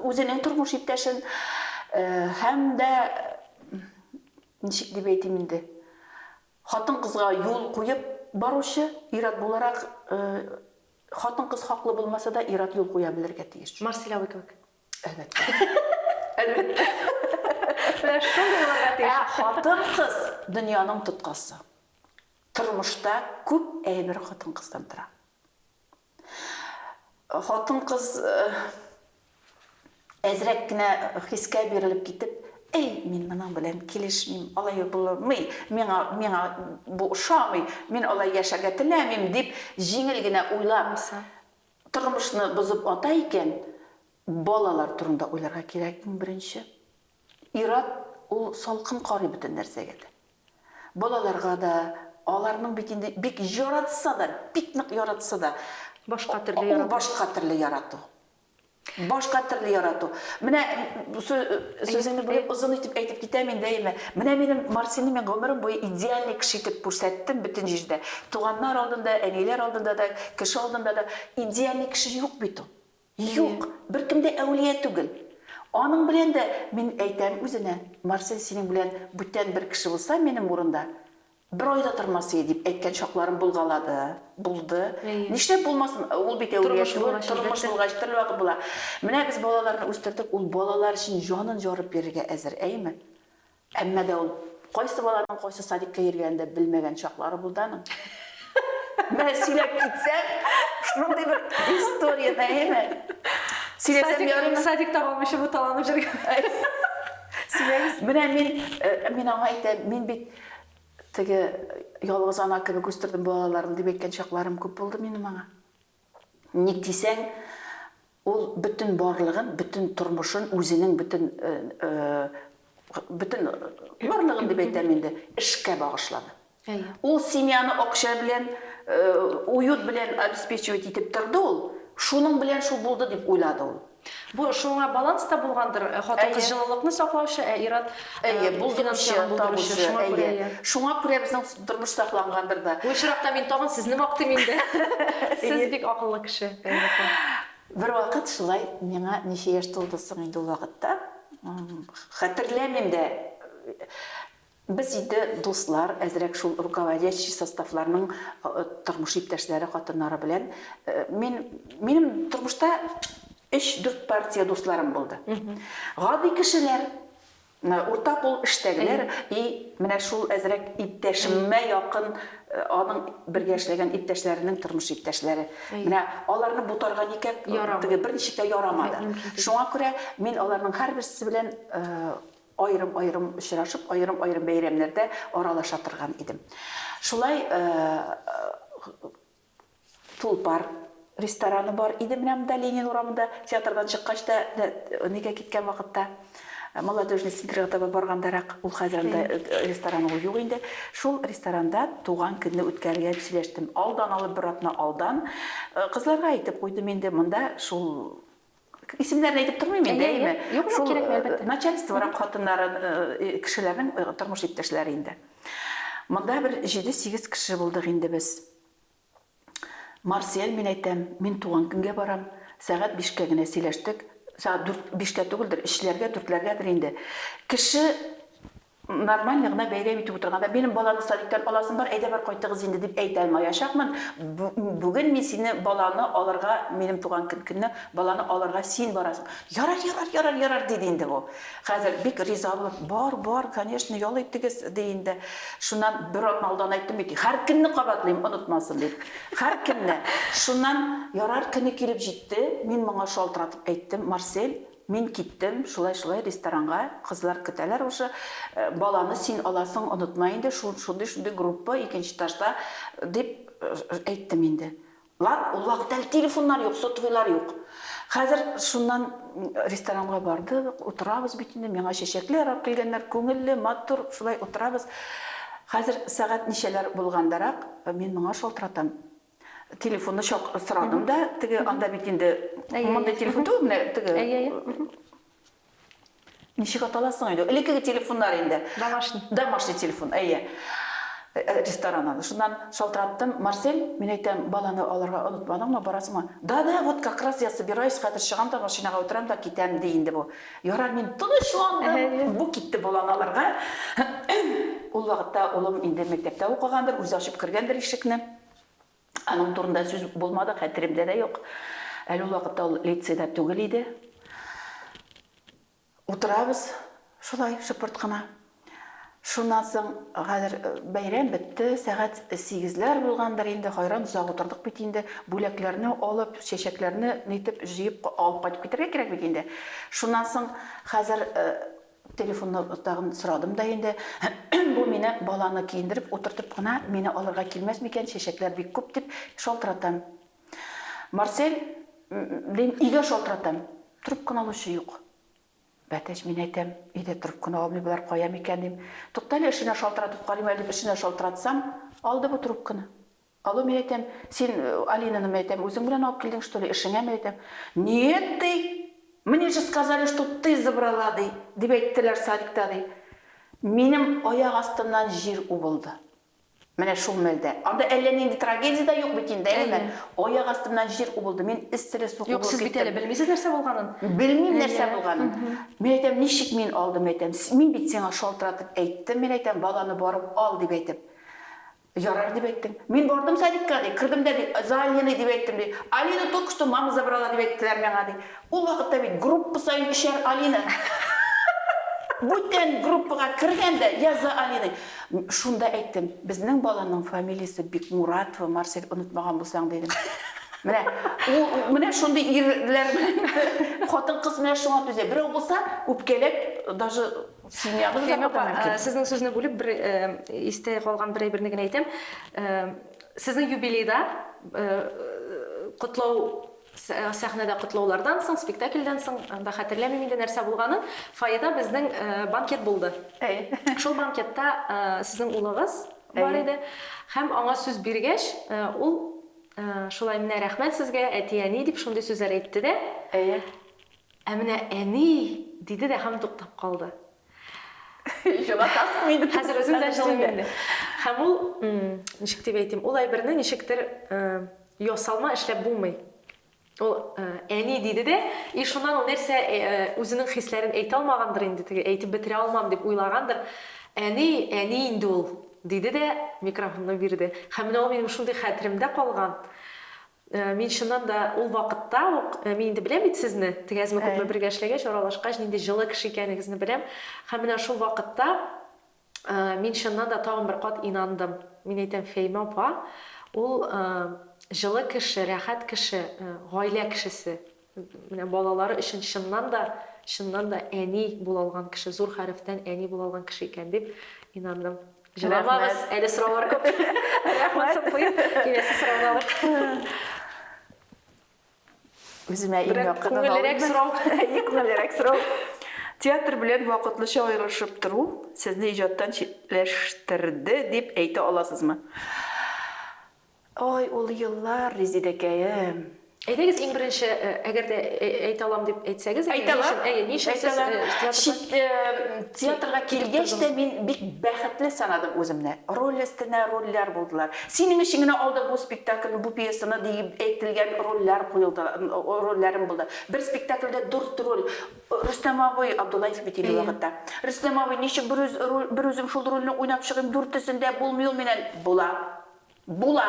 Speaker 2: үзенең тормыш иптәшен һәм дә, ничек дип әйтим инде, хатын-кызга юл куеп баручы, ир-ат буларак, хатын-кыз хаклы булмаса да, ир-ат юл куя белергә тиеш. Марселяуи кебек. Әлбәттә. Менә шундый булырга тиеш. Ә хатын-кыз дөньяның тоткасы. Тормышта күп әйбер хатын-кыздан тора. Хатын-кыз э, әзрәк кенә хискә бирелеп китеп, эй, мин моның белән килешмим, алай булмый, миңа, миңа бу ошамый, мин алай яшәргә теләмим, дип җиңел генә уйлап, тормышны бозып ата икән, балалар турында уйларга кирәк иң беренче. Ир-ат ул салкын карый бөтен нәрсәгә дә. Балаларга да, аларның бит инде бик яратса да, бик нык яратса да, Башка төрле ярату.
Speaker 1: Ул башка төрле ярату.
Speaker 2: Башка төрле ярату. Менә Сүзеңне бүлеп, озын итеп әйтеп китәм мин даими. Менә минем Мартинны мин гомерем буе идеальный кеше итеп күрсәттем бөтен җирдә. Туганнар алдында, әниләр алдында да, кеше алдында да. Идеальный кеше юк бит ул. Юк! Беркем дә әүлия түгел. Аның белән дә, мин әйтәм үзенә, Мартин синең белән бүтән бер кеше булса минем урында, Бер ай да тормас ие, дип әйткән чакларым булгалады, булды. Нишләп булмасын, ул бит әүлия түгел, тормыш булгач, төрлевакыт була. Менә без балаларны үстердек, ул балалар өчен җанын ярып бирергә әзер, әйеме? Әмма дә ул кайсы баланың кайсы садикка йөргәнен дә белмәгән чаклары булды аның. Менә сөйләп китсәң, шундый бер история, әйеме? Сөйләсәм ярыймы? Садик, садик таба алмыйча буталанып
Speaker 1: йөргән. Сөйләгез.
Speaker 2: Менә мин, мин аңа әйтәм, мин бит Теге ялгыз ана кебек үстердем балаларым дип әйткән чакларым күп булды минем аңа. Ник дисәң, ул бөтен барлыгын, бөтен тормышын, үзенең бөтен бөтен барлыгын дип әйтәм инде, эшкә багышлады. Ул семьяны акча белән, уют белән обеспечивать итеп торды ул. Шуның белән шул булды дип уйлады ул. Бу шуңа
Speaker 1: баланс та булгандыр, хатын-кыз җылылыкны саклаучы, ә ир-ат финансларны
Speaker 2: булдыручы, шуңа күрә. Әйе, шуңа күрә безнең тормыш саклангандыр да. Бу очракта мин тагын
Speaker 1: сезне мактыйм инде. Сез бик акыллы кеше, Фәнил апа.
Speaker 2: Бервакыт шулай миңа ничә яшь тулды соң инде ул вакытта, хәтерләмим дә. Без инде дуслар, әзрәк шул руководящий составларның тормыш иптәшләре хатыннары белән мин, минем тормышта өч-дүрт партия дусларым булды. Гади кешеләр, урта кул эштәгеләр и менә шул әзрәк иптәшемә якын аның бергә эшләгән иптәшләренең тормыш иптәшләре. Менә аларны бутарга никак теге берничек тә ярамады. Шуңа күрә мин аларның һәрберсе белән Аерым-аерым очрашып, аерым-аерым бәйрәмнәрдә аралаша торган идем. Шулай Тулпар рестораны бар иде менә монда, Ленин урамында, театрдан чыккач та, нигә киткән вакытта, Молодежный центрга таба баргандарак, ул хәзер анда ресторан ул юк инде. Шул ресторанда туган көнне үткәрергә дип сөйләштем. Алдан алып, бер атна алдан кызларга әйтеп куйдым инде, монда шул Исемнәрен әйтеп тормыйм инде, әйеме? Юк, юк, кирәкми, әлбәттә. Начальстворак хатыннары, кешеләрнең тормыш иптәшләре инде. Монда бер җиде-сигез кеше булдык инде без. Марсель, мин әйтәм, мин туган көнгә барам. Сәгать бишкә генә сөйләштек. Сәгать дүрт, бишкә түгелдер, өчләргә, дүртләргәдер инде. Кеше Нормально гына бәйрәм итеп утырганда, минем баланы садиктан аласым бар, әйдә бар кайтыгыз инде, дип әйтә алмаячакмын. Бүген мин сине баланы алырга, минем туган көнне баланы алырга син барасың. Ярар, ярар, ярар, ярар, диде инде бу. Хәзер бик риза булып, бар, бар, конечно, ял итегез, ди инде. Шуннан бер атна алдан әйттем бит, һәркөнне кабатлыйм, онытмасын дип. Һәркөнне. Шуннан ярар көне килеп җитте, мин моңа шалтыратып әйттем, Марсель, Мин киттем, шулай-шулай ресторанга, кызлар көтәләр уже, баланы син аласың, онытма инде, шундый-шундый группа, икенче этажда, дип әйттем инде. Лар, ул вакыт әле телефоннар юк, сотовыйлар юк. Хәзер шуннан ресторанга бардык, утырабыз бит инде, миңа чәчәкләр алып килгәннәр, күңелле, матур, шулай утырабыз. Хәзер сәгать ничәләр булгандарак, мин моңа шалтыратам. Телефонны чак сорадым да, теге анда бит инде мондый телефон түгел, менә теге. Әйе, әйе. Ничек аталасың инде? Элеккеге телефоннар инде. Домашний. Домашний телефон, әйе. Э, э, ресторан аны. Шуннан шалтыраттым, Марсель, мин әйтәм, баланы алырга онытмадыңмы, барасыңмы? Да, да, вот как раз я собираюсь, хәзер чыгам да машинага утырам да китәм, ди инде бу. Ярар, мин тынычландым. Бу китте баланы алырга. Ул вакытта улым инде мәктәптә укыгандыр, үзе ачып кергәндер ишекне. Аның турында сүз булмады, хәтеремдә дә юк. Әле ул вакытта ул лицейда түгел иде. Утырабыз шулай шыпырт кына. Шуннан соң хәзер э, бәйрәм бетте, сәгать сигезләр булгандыр инде, хайран озак утырдык бит инде, бүләкләрне алып, чәчәкләрне нитеп җыеп алып кайтып китәргә кирәк бит инде. Шуннан соң хәзер э, Телефонны тагын сорадым да инде. Бу мине баланы киендереп утыртып кына мине алырга килмәс микән, чәчәкләр бик күп, дип шалтыратам. Марсель, дим, өйгә шалтыратам. Трубканы алучы юк. Бәтәч, мин әйтәм, өйдә трубканы алмый болар, кая микән, дим. Туктале, эшенә шалтыратып карыйм әле, дип эшенә шалтыратсам, алды бу трубканы. Алло, мин әйтәм, син Алинаны, мин әйтәм, үзең белән алып килдең, что ли, эшеңә, мин әйтәм, нет, ди, мне же сказали, что ты забрала, ди, дип әйттеләр садикта, ди. Минем аяк астымнан җир убылды. Менә шул мәлдә. Анда әллә нинди трагедия дә юк бит инде, әйеме? Аяк астымнан җир убылды, мин эсселе су кубылып киттем. Юк, сез бит әле белмисез
Speaker 1: нәрсә булганын. Белмим нәрсә
Speaker 2: булганын. Мин әйтәм, ничек мин алдым, әйтәм, мин бит сиңа шалтыратып әйттем, мин әйтәм, баланы барып ал, дип әйтеп. Ярар, дип әйттем. Мин бардым садикка, ди. Кердем дә, ди, Залиный дип әйттем, ди. Алину только что мама забрала дип әйттеләр миңа, ди. Ул вакытта бит группа саен өчәр Алина. Бүтән группага кергән дә, я за Алиной. Шунда әйттем, безнең баланың фамилиясе Бикмуратова, Марсель, онытмаган булсаң, дидем. Менә ул, менә шундый ирләр белән хатын-кыз менә шуңа түзә. Берәү булса, үпкәләп, даже Семьябыз да апа мөмкин. Сезнең сүзне бүлеп, бер
Speaker 1: истә калган бер әйберне генә әйтәм. Сезнең юбилейда котлау сәхнәдә котлаулардан соң, спектакльдән соң, анда хәтерләмим инде нәрсә булганын, фойеда безнең банкет булды. Шул банкетта сезнең улыгыз бар иде. Һәм аңа сүз биргәч, ул шулай менә рәхмәт сезгә, әти-әни, дип шундый сүзләр әйтте дә. Ә менә әни! диде дә һәм туктап калды. Җылатасың
Speaker 2: инде. Хәзер үзем дә җылыйм инде.
Speaker 1: Һәм ул, ничек дип әйтим, ул әйберне ничектер ясалма эшләп булмый. Ул, әни! диде дә, и шуннан ул нәрсә үзенең хисләрен әйтә алмагандыр инде, теге әйтеп бетерә алмам дип уйлагандыр, әни, әни инде ул! диде дә микрофонны бирде. Һәм менә ул минем шундый хәтеремдә калган. Мин чыннан да ул вакытта ук, мин инде беләм бит сезне, тегәзме-күпме бергә эшләгәч, аралашкач, нинди җылы кеше икәнегезне беләм. Һәм менә шул вакытта мин чыннан да тагын бер кат инандым. Мин әйтәм, Фәимә апа, ул җылы кеше, рәхәт кеше, гаилә кешесе. Менә балалары өчен чыннан да, чыннан да әни була алган кеше, зур хәрефтән әни була алган кеше икән дип инандым. Җыламагыз, әле сораулар күп. Монсын куеп, киләсе сорауны алырбыз.
Speaker 2: Үземә иң якынын алыйм. Берәр күңеллерәк сорау. Әйе,
Speaker 1: күңеллерәк сорау. Театр
Speaker 2: белән вакытлыча аерылышып тору сезне иҗаттан читләштерде дип әйтә аласызмы? Ой, ул еллар, Резидәкәем! Әйдәгез иң
Speaker 1: беренче, әгәр дә әйтә алам дип әйтсәгез, әйе, ни өчен, әйе, ни өчен сез
Speaker 2: театрга? Театрга килгәч тә мин бик бәхетле санадым үземне. Роль өстенә рольләр булдылар. Синең өчен генә алдык бу спектакльне, бу пьесаны диеп әйтелгән рольләр куелды, рольләрем булды. Бер спектакльдә дүрт роль. Рөстәм абый, Абдуллаев бит инде ул вакытта. Рөстәм абый, ничек берүзем шул рольне уйнап чыгыйм, дүртесендә булмый ул миннән. Була. Була!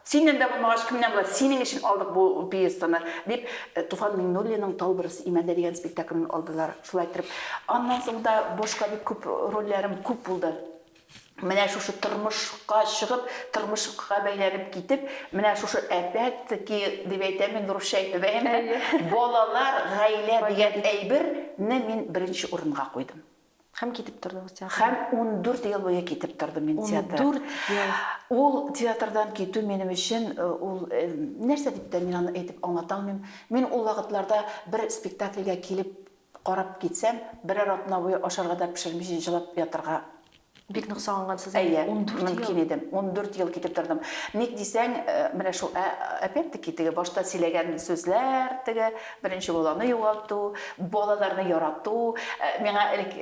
Speaker 2: Синнән дә булмагач, кемнән була? Синең өчен алдык бу пьесаны, дип, Туфан Миңнуллинның Тал бөресе имәндә дигән спектаклен алдылар. Шулай иттереп, аннан соң да башка бик күп рольләрем күп булды. Менә шушы тормышка чыгып, тормышка бәйләнеп китеп, менә шушы опять-таки, дип әйтәм мин русча әйтеп, әйе, балалар, гаилә дигән әйберне мин беренче урынга куйдым. Һәм китеп
Speaker 1: тордыгыз театрдан? Һәм ундүрт ел
Speaker 2: буе китеп тордым мин театр. Ундүрт ел!
Speaker 1: Ул театрдан
Speaker 2: китү минем өчен, ул, нәрсә дип тә мин аны әйтеп аңлата алмыйм. Мин ул вакытларда бер спектакльгә килеп карап китсәм, берәр атна буе ашарга да пешермичә җылап ятарга. Бик нык
Speaker 1: сагынгансыз инде, Әйе, ундүрт ел. мөмкин идем.
Speaker 2: Ундүрт ел китеп тордым. Ник дисәң, менә шул, ә, опять-таки, теге башта сөйләгән сүзләр, теге беренче баланы югалту, балаларны ярату. Миңа элек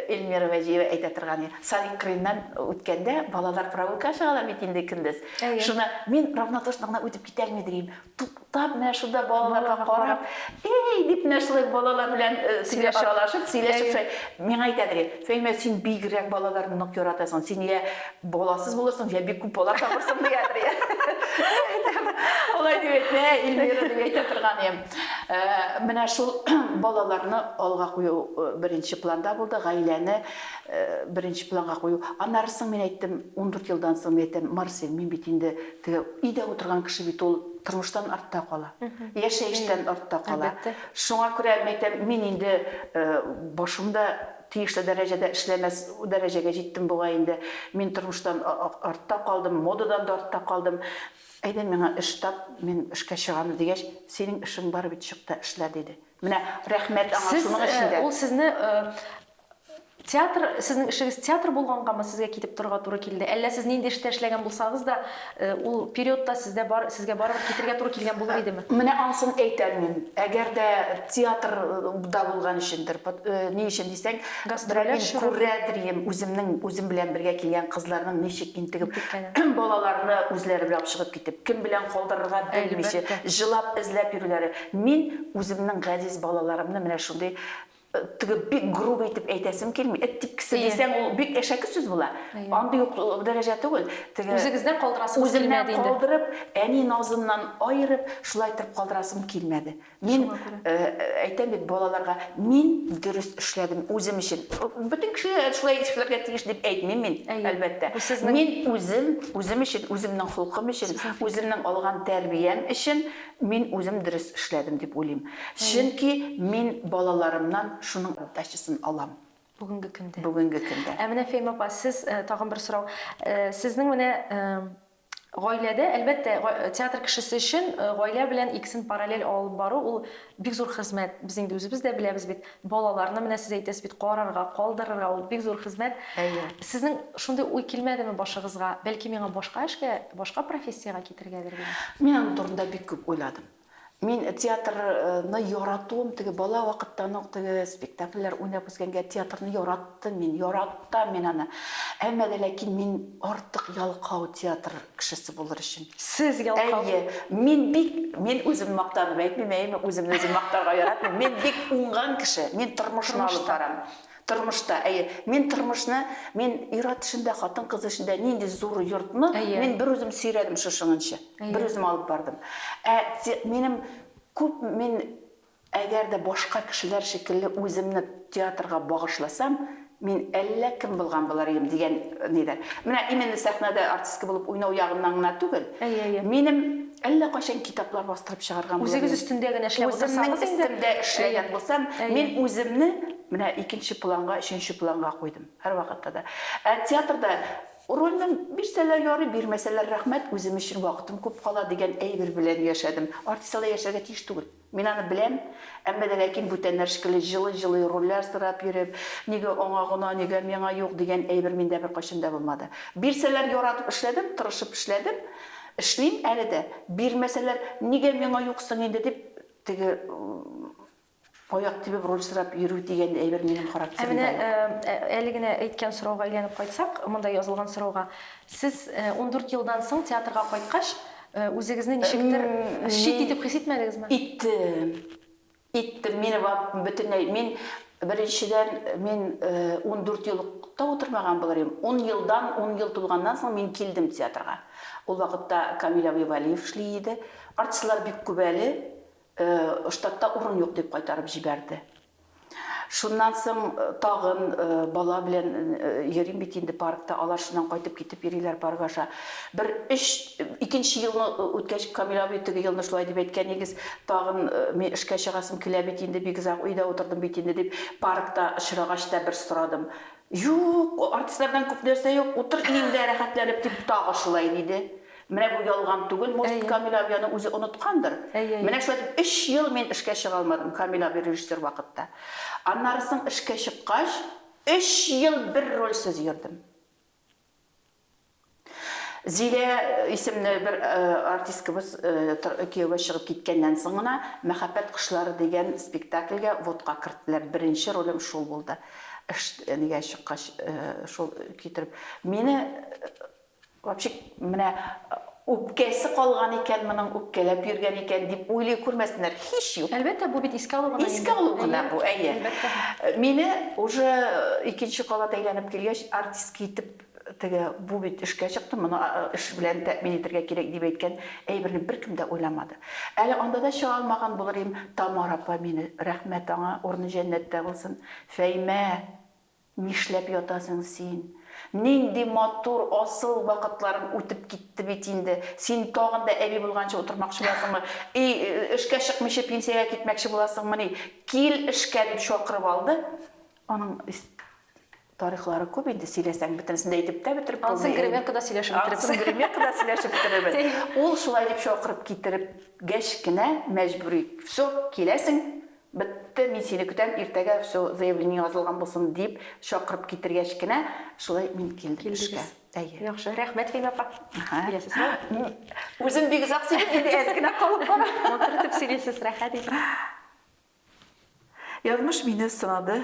Speaker 2: Эльмира Вәҗиева әйтә торган иде, Садик кырыеннан үткәндә, балалар прогулкага чыгалар бит инде көндез. Әйе. Шуны мин равнодушно гына үтеп китәрме, дим. Туктап, менә шунда балаларга карап, эй, дип менә шулай балалар белән сөйләшеп, аралашып, сөйләшеп шулай. Миңа әйтәдер, Фәимә, син бигрәк балаларны нык яратасың, син я баласыз булырсың, я бик күп бала табырсың, диядер. Алай дип әйтмә, Эльмира, дип әйтә торган идем. Менә шул балаларны алга кую беренче планда булды, гаиләне беренче планга кую. Аннары соң мин әйттем, ундүрт елдан соң мин әйтәм, Марсель, мин бит инде Теге өйдә утырган кеше бит ул тормыштан артта кала. Яшәештән артта кала. Шуңа күрә мин әйтәм, мин инде башым да тиешле дәрәҗәдә эшләмәс дәрәҗәгә җиттем бугай инде. Мин тормыштан артта калдым, модадан да артта калдым. Әйдә миңа эш тап, мин эшкә чыгам, дигәч, синең эшең бар бит, чык та эшлә, диде. Менә рәхмәт аңа шуның өчен дә. Сез, ул сезне
Speaker 1: Театр, сезнең эшегез театр булгангамы сезгә китеп торырга туры килде? Әллә сез нинди эштә эшләгән булсагыз да, ул период та сездә бар, сезгә барыбер китергә туры килгән булыр идеме? Менә ансын әйтә
Speaker 2: алмыйм. Әгәр дә театр да булган өчендер, ни өчен дисәң, Гастрольләр чоры. Мин
Speaker 1: күрәдрием,
Speaker 2: үземнең, үзем белән бергә килгән кызларның ничек интегеп, Интеккәнен. Балаларны үзләре белән ашыгып китеп, кем белән калдырырга белмичә, Әлбәттә. Җылап, эзләп йөрүләре. Мин үземнең газиз балаларымны менә шундый Теге бик грубый итеп әйтәсем килми. Эт типкесе дисәң, ул бик әшәке сүз була. Андый ук дәрәҗә түгел. Теге Үзегездән
Speaker 1: калдырасыгыз килмәде инде. Үземнән калдырып, әни
Speaker 2: назыннан аерып, шулай иттереп калдырасым килмәде. Мин әйтәм бит балаларга, мин дөрес эшләдем үзем өчен. Бөтен кеше шулай эшләргә тиеш дип әйтмим мин, әлбәттә. Мин үзем, үзем өчен, үземнең холкым өчен, үземнең алган тәрбиям өчен Мин үзем дөрес эшләдем дип уйлыйм. Чөнки мин балаларымнан шуның отдачасын алам. Бүгенге көндә.
Speaker 1: Бүгенге көндә. Ә менә
Speaker 2: Фәймә апа, сез
Speaker 1: тагын бер сорау. Сезнең менә гаиләдә, әлбәттә, театр кешесе өчен гаилә белән икесен параллель алып бару ул бик зур хезмәт. Без инде үзебез дә беләбез бит. Балаларны, менә сез әйтәсез бит, карарга, калдырырга, ул бик зур хезмәт. Әйе. Сезнең шундый уй килмәдеме башыгызга, бәлки миңа башка эшкә, башка профессиягә китергәдер дигән? Мин аның турында бик
Speaker 2: күп уйладым. Мин театрны яратуым, теге бала вакыттан ук теге спектакльләр уйнап үскәнгә, театрны яраттым. Яраттым мин, яратам мин аны. Әмма дә ләкин мин артык ялкау театр кешесе булыр өчен. Сез ялкау? Әйе.
Speaker 1: Мин бик,
Speaker 2: мин үземне мактанып әйтмим, әйеме, үземне үзем мактарга яратмыйм. Мин бик уңган кеше. Мин тормышны алып барам. Тормышта, әйе. Мин тормышны, мин ир-ат эшендә, хатын-кыз эшендә нинди зур йортны мин берүзем сөйрәдем шушыңынчы. Берүзем алып бардым. Ә минем күп мин Әгәр дә башка кешеләр шикелле үземне театрга багышласам, мин әллә кем булган булыр идем, дигән нидер. Менә именно сәхнәдә артистка булып уйнау ягыннан гына түгел, минем әллә кайчан китаплар бастырып чыгарган булыр идем. Үзегез өстендә генә эшләп утырсагыз
Speaker 1: инде. Үземнең өстемдә
Speaker 2: эшләгән булсам, мин үземне менә икенче планга, өченче планга куйдым, һәрвакытта да. Ә театрда рольне бирсәләр ярый, бирмәсәләр рәхмәт, үзем өчен вакытым күп кала, дигән әйбер белән яшәдем. Артист алай яшәргә тиеш түгел. Мин аны беләм, әмма дә ләкин бүтәннәр шикелле җылый-җылый рольләр сорап йөреп, нигә аңа гына, нигә миңа юк, дигән әйбер миндә беркайчан да булмады. Бирсәләр, яратып эшләдем, тырышып эшләдем, эшлим әле дә. Бирмәсәләр, нигә миңа юк соң инде дип, теге аяк тибеп роль сорап йөрү дигән әйбер минем характерымда юк. Ә менә әле
Speaker 1: генә әйткән сорауга әйләнеп кайтсак, монда язылган сорауга. Сез ундүрт елдан соң театрга кайткач, Үзегезне ничектер чит итеп хис итмәдегезме? Иттем. Иттем. Мине бөтенләй мин беренчедән мин 14 ел та утырмаган булыр идем. 10 елдан, 10 ел тулганнан соң мин килдем театрга. Ул вакытта Камил абый Вәлиев эшли иде. Артистлар бик күп әле, штатта урын юк дип кайтарып җибәрде. Шуннан соң тагын бала белән йөрим бит инде паркта, алар шуннан кайтып китеп йөриләр парк аша. Бер өч, икенче елны үткәч, Камил абый теге елны шулай дип әйткән, нигез, тагын мин эшкә чыгасым килә бит инде, бик озак өйдә утырдым бит инде, дип, паркта очрагач та бер сорадым. Юк, артистлардан күп нәрсә юк, утыр өеңдә рәхәтләнеп, дип, тагы шулай диде. Менә бу ялган түгел, может, Камиль абый аны үзе оныткандыр. Менә шулай дип, өч ел мин эшкә чыга алмадым, Камиль абый режиссер вакытта. Аннары соң эшкә чыккач, өч ел бер рольсез йөрдем. Зилә исемле бер артисткабыз кияүгә чыгып киткәннән соң гына Мәхәббәт кошлары дигән спектакльгә вотка керттеләр. Беренче ролем шул булды. Эш нигә чыккач, шул китереп. Мине Вообще, менә үпкәсе калган икән моның, үпкәләп йөргән икән, дип уйлый күрмәсеннәр, һич юк. Әлбәттә, бу бит искә алу гына инде. Искә алу гына бу,
Speaker 2: әйе. Мине уже икенче кабат әйләнеп килгәч, артистка итеп, теге, бу бит эшкә чыкты, моны эш белән тәэмин итәргә кирәк, дип әйткән әйберне беркем дә уйламады. Әле анда да чыга алмаган булыр идем, Тамара апа мине, рәхмәт аңа, урыны җәннәттә булсын, Фәймә! Нишләп ятасың син? Нинди матур, асыл вакытларың үтеп китте бит инде. Син тагын да әби булганчы утырмакчы буласыңмы? И, эшкә чыкмыйча пенсиягә китмәкче буласыңмыни? Кил эшкә, дип чакырып алды. Аның тарихлары күп инде, сөйләсәң, бөтенесен дә әйтеп тә бетереп булмый. Ансын гримеркада сөйләшеп
Speaker 1: бетерербез. Ансын гримеркада сөйләшеп
Speaker 2: бетерербез. Ул шулай дип чакырып китереп гәч кенә мәҗбүри, Всё, киләсең, Бетте, мин сине көтәм, иртәгә все заявление язылган булсын, дип чакырып китергәч кенә, шулай мин килдем эшкә. Әйе. Яхшы, рәхмәт, Фәймә апа.
Speaker 1: Киләсезме? Үзем бик
Speaker 2: озак сөйлим, инде әз генә калып бара. Матур итеп сөйлисез,
Speaker 1: рәхәт итеп.
Speaker 2: Язмыш мине сынады,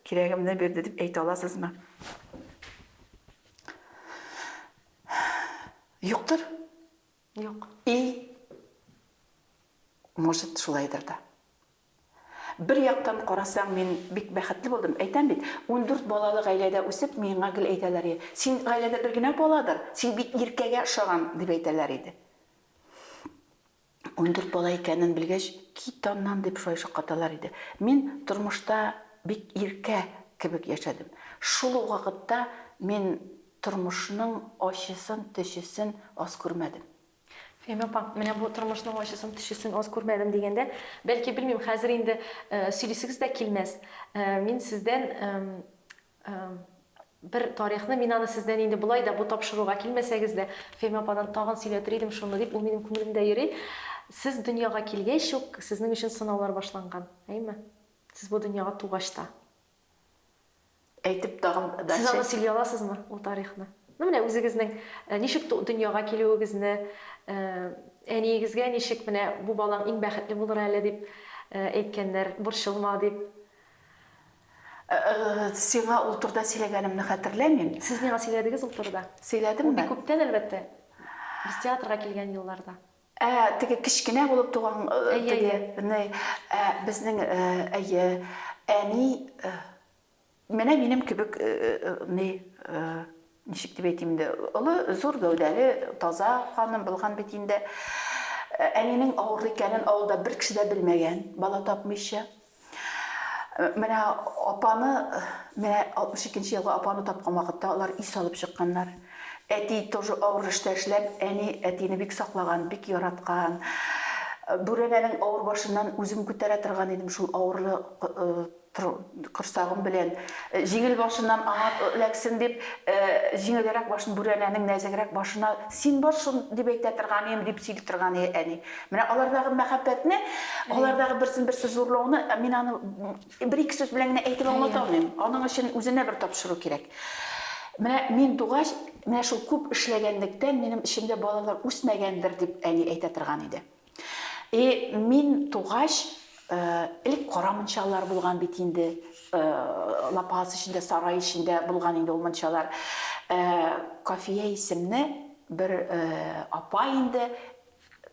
Speaker 2: кирәгемне бирде дип әйтә аласызмы? Юктыр. Юк.
Speaker 1: И
Speaker 2: может шулайдыр да. Бер яктан карасаң, мин бик бәхетле булдым. Әйтәм бит, ундүрт балалы гаиләдә үсеп, миңа гел әйтәләр иде, син гаиләдә бер генә баладыр, син бит иркәгә ошаган, дип әйтәләр иде. Ундүрт бала икәнен белгәч, кит аннан, дип шулай шаккаталар иде. Мин тормышта бик иркә кебек яшәдем. Шул ук вакытта мин Тормышның ачысын, төчесен аз күрмәдем. Фәймә апа,
Speaker 1: менә бу тормышның ачысын, төчесен аз күрмәдем дигәндә, бәлки, белмим, хәзер инде сөйлисегез дә килмәс. Мин сездән бер тарихны, мин аны сездән инде болай да бу тапшыруга килмәсәгез дә, Фәймә ападан тагын сөйләтер идем шуны дип, ул минем күңелемдә йөри. Сез дөньяга килгәч үк, сезнең өчен сынаулар башланган, әйеме? Сез бу дөньяга тугач та. Әйтеп
Speaker 2: тагын дача. Сез аны сөйли аласызмы,
Speaker 1: ул тарихны? Ну менә үзегезнең ничек дөньяга килүегезне, әниегезгә ничек менә бу балаң иң бәхетле булыр әле дип әйткәннәр, борчылма дип.
Speaker 2: Сиңа ул турыда сөйләгәнемне хәтерләмим. Сез миңа сөйләдегез
Speaker 1: ул турыда. Сөйләдемме? Ул бик күптән
Speaker 2: әлбәттә,
Speaker 1: без театрга килгән елларда. Ә, теге
Speaker 2: кечкенә булып туган теге ни, ә, безнең, әйе, әни, менә минем кебек ни, ничек дип әйтим инде, олы, зур гәүдәле, таза ханым булган бит инде. Әнинең авыру икәнен авылда бер кеше дә белмәгән, бала тапмыйча. Менә апаны, менә 62 нче елга апаны тапкан вакытта алар ис алып чыкканнар. Әти тоже авыр эштә эшләп, әни әтине бик саклаган, бик яраткан. Бүрәнәнең авыр башыннан үзем күтәрә торган идем шул авырлы корсагым белән. Җиңел башыннан аңа эләксен дип, җиңелрәк башын бүрәнәнең нәзегрәк башына син бар шул дип әйтә торган идем, дип сөйли торган әни. Менә алардагы мәхәббәтне, алардагы берсен-берсе зурлауны мин аны бер-ике сүз белән генә әйтеп аңлата алмыйм. Аның өчен үзенә бер тапшыру кирәк. Менә мин тугач, менә шул күп эшләгәнлектән минем эчемдә балалар үсмәгәндер дип әни әйтә торган иде. И мин тугач, элек кара мунчалар булган бит инде, лапас эчендә, сарай эчендә булган инде ул мунчалар. Кафия исемле бер апа инде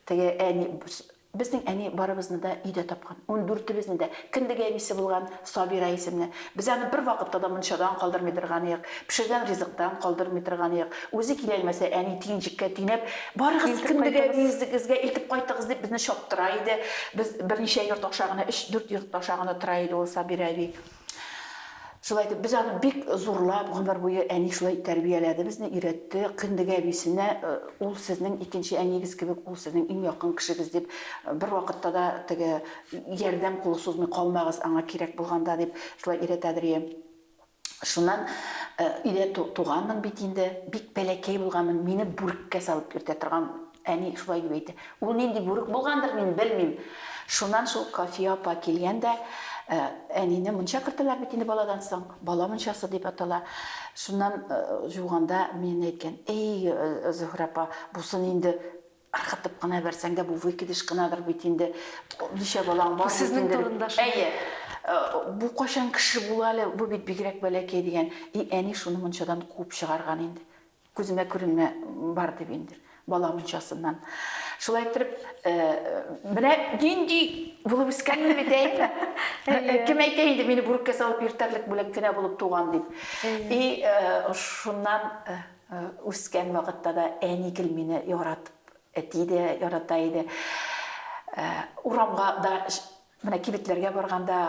Speaker 2: Теге әни, безнең әни барыбызны да өйдә тапкан, ундүртебезне дә. Кендек әнисе булган, Сабира исемле. Без аны бервакытта да мунчадан калдырмый торганыек, пешергән ризыктан калдырмый торганыек. Үзе киләлмәсә, әни тиенчеккә тинәп, Барыгыз, кендек әниегезгә илтеп кайтыгыз, дип безне чаптыра иде. Без берничә йорт аша гына, өч-дүрт йорт аша гына тора иде ул Сабира әби. Шулай итеп, без аны бик зурлап, гомер буе әни шулай тәрбияләде безне, өйрәтте. Кендеге әбисенә э, ул сезнең икенче әниегез кебек, ул сезнең иң якын кешегез дип, э, бер вакытта да теге ярдәм кулы сузмый калмагыз аңа кирәк булганда дип шулай өйрәтә Дөрия. Шуннан э, өйдә туганмын бит инде, бик бәләкәй булганмын, мине бүреккә салып йөртә торган Әни шулай дип әйтә. Ул нинди бүрек булгандыр, мин белмим. Шуннан шул Кафия апа килгән дә, әнине мунча кертәләр бит инде баладан соң, бала мунчасы дип атала. Шуннан жуганда мине әйткән, Эй, Зөһрә апа, бусын инде ыргытып кына бәрсәң дә, бу выкидыш кынадыр бит инде. Ничә балаң бар? Сезнең турында шул. Әйе. Бу кайчан кеше була әле, бу бит бигрәк бәләкәй дигән. И әни шуны мунчадан куып чыгарган инде. Күземә күренмә бар дип инде бала мунчасыннан. Шулай иттереп, менә нинди булып үскәнмен бит әйме? Кем әйтә инде мине бүреккә салып йөртәрлек бүләк кенә булып туган дип. И шуннан үскән вакытта да әни гел мине яратып, әти дә ярата иде. Урамга да, менә кибетләргә барганда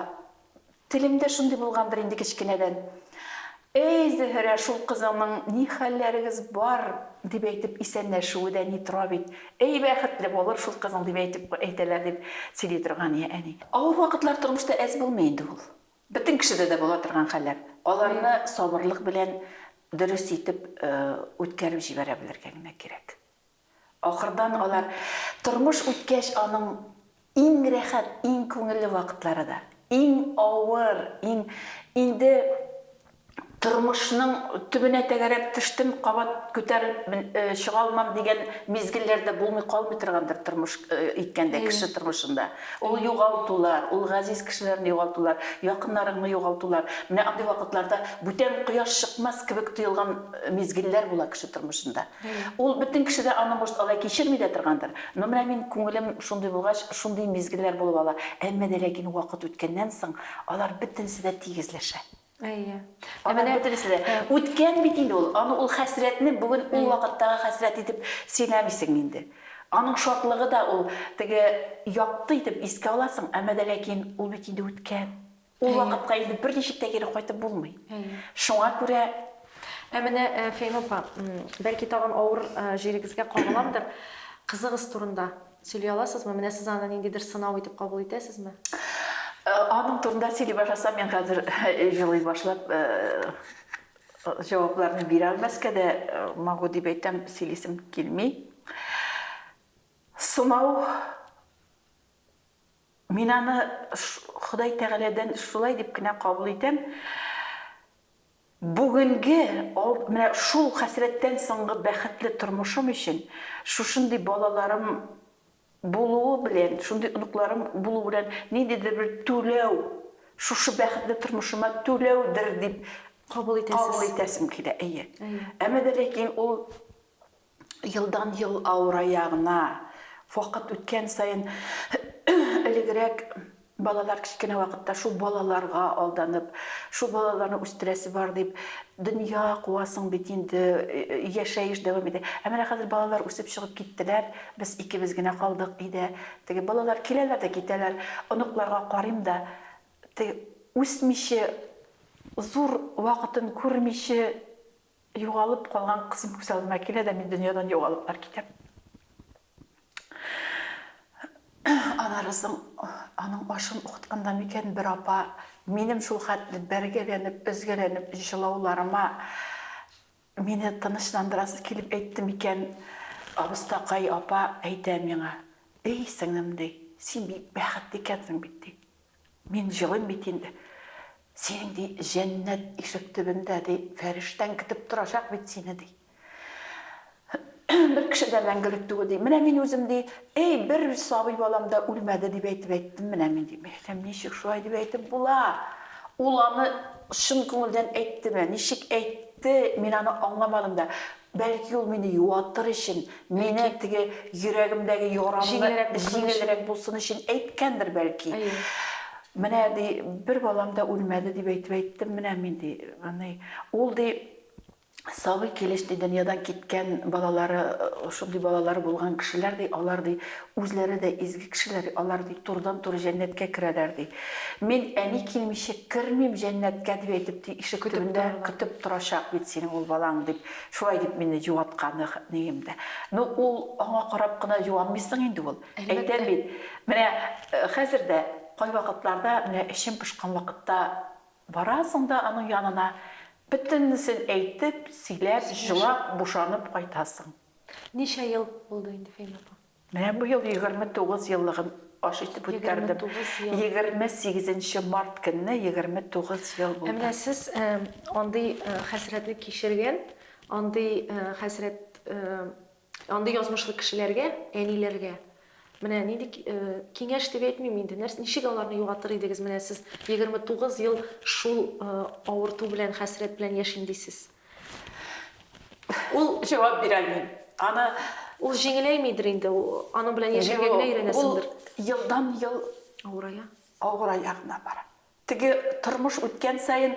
Speaker 2: Телемдә шундый булгандыр инде кечкенәдән. Әй, Зөһрә, шул кызыңның ни хәлләрегез бар, дип әйтеп исәнләшүе дә ни тора бит. Әй, бәхетле булыр шул кызың, дип әйтеп әйтәләр, дип сөйли торган иде әни. Авыр вакытлар тормышта әз булмый инде ул. Бөтен кешедә дә була торган хәлләр. Аларны сабырлык белән дөрес итеп үткәреп җибәрә белергә генә кирәк. Ахырдан алар тормыш үткәч, аның иң рәхәт, иң күңелле вакытлары да, иң авыр, иң, инде тормышның төбенә тәгәрәп төштем, кабат күтәрелеп чыга алмам дигән мизгелләр дә булмый калмый торгандыр тормыш иткәндә кеше тормышында. Ул югалтулар, ул газиз кешеләрне югалтулар, якыннарыңны югалтулар. Менә андый вакытларда бүтән кояш чыкмас кебек тоелган мизгелләр була кеше тормышында. Ул бөтен кеше дә аны, может, алай кичерми дә торгандыр. Но менә мин, күңелем шундый булгач, шундый мизгелләр булып ала. Әмма дә ләкин вакыт үткәннән соң, алар бөтенесе дә тигезләшә. Әйе.
Speaker 1: Ә менә бөтенесе дә.
Speaker 2: Үткән бит инде ул. Аны, ул хәсрәтне бүген ул вакыттагы хәсрәт итеп сөйләмисең инде. Аның шатлыгы да ул теге якты итеп искә аласың, әмма дә ләкин ул бит инде үткән. Ул вакытка инде берничек тә кире кайтып булмый. Шуңа күрә Ә менә
Speaker 1: Фәйма апа, бәлки тагын авыр җирегезгә кагыламдыр, кызыгыз турында сөйли аласызмы? Менә сез аны ниндидер сынау итеп кабул итәсезме?
Speaker 2: Аның турында сөйли башласам, мин хәзер җылый башлап җавапларны бирә алмаска да могу дип әйтәм, сөйлисем килми. Сынау Мин аны Ходай Тәгаләдән шулай дип кенә кабул итәм. Бүгенге, менә шул хәсрәттән соңгы бәхетле тормышым өчен, шушындый балаларым булуы белән, шундый оныкларым булу белән ниндидер бер түләү, шушы бәхетле тормышыма түләүдер дип кабул итәсем килә. Әйе. Әмма дә ләкин ул елдан-ел авырая гына. Вакыт үткән саен элегрәк балалар кечкенә вакытта шул балаларга алданып, шул балаларны үстерәсе бар дип, дөнья куасың бит инде, яшәеш дәвам итә. Ә менә хәзер балалар үсеп чыгып киттеләр, без икебез генә калдык өйдә. Теге балалар киләләр дә китәләр. Оныкларга карыйм да, теге үсмиче, зур вакытын күрмиче, Югалып калган кызым күз алдыма килә дә, мин дөньядан югалыплар китәм. Анарызың, аның ашын укытканда микән бер апа, минем шул хәтле бәргәләнеп, өзгәләнеп җылауларыма мине тынычландырасы килеп әйтте микән, абыстакай апа әйтә миңа, Эй, сеңлем, ди, син бик бәхетле икәнсең бит, ди. Мин җылыйм бит инде. Синең, ди, җәннәт ишек төбендә, ди, фәрештәң көтеп торачак бит сине, ди. Бер кеше дә мәңгелек түгел, ди. Менә мин үзем, ди, Әй, бер сабый балам да үлмәде, дип әйтеп әйттем менә мин, ди. Мин әйтәм, ничек шулай дип әйтеп була? Ул аны чын күңелдән әйттеме, ничек әйтте, мин аны аңламадым да. Бәлки ул мине юатыр өчен, мине теге йөрәгемдәге ярамны җиңелрәк булсын өчен әйткәндер, бәлки. Менә, ди, бер балам да үлмәде, дип әйтеп әйттем менә мин, ди. Ул, ди, сабый килеш, ди, дөньядан киткән балалары, шундый балалары булган кешеләр, ди, алар, ди, Үзләре дә изге кешеләр алар, ди, турыдан-туры җәннәткә керәләр, ди. Мин әни килмичә кермим җәннәткә, дип әйтеп, ди, ишек төбендә көтеп торачак бит синең ул балаң, дип, шулай дип мине җуаткан әнием дә. Ну, ул, аңа карап кына җуанмыйсың инде ул. Әйтәм бит, менә хәзер дә кайвакытларда, менә эчем пошкан вакытта барасың да аның янына, бөтенесен әйтеп, сөйләп, җылап, бушанып кайтасың. Ничә ел
Speaker 1: булды инде, Фәймә апа? Менә бу ел егерме
Speaker 2: тугыз еллыгын аш итеп үткәрдем. Егерме сигезенче март көнне егерме тугыз ел булды. Ә менә сез
Speaker 1: андый хәсрәтне кичергән, андый хәсрәт, андый язмышлы кешеләргә, әниләргә менә нинди киңәш дип әйтмим инде, ничек аларны югалтыр идегез? Менә сез егерме тугыз ел шул авырту белән, хәсрәт белән яшим дисез. Ул
Speaker 2: җавап бирә алмыйм. Аны Ул җиңеләймидер
Speaker 1: инде, ул аның белән яшәргә генә өйрәнәсеңдер. Ул елдан-ел
Speaker 2: авырая. Авырая гына бара. Теге тормыш үткән саен,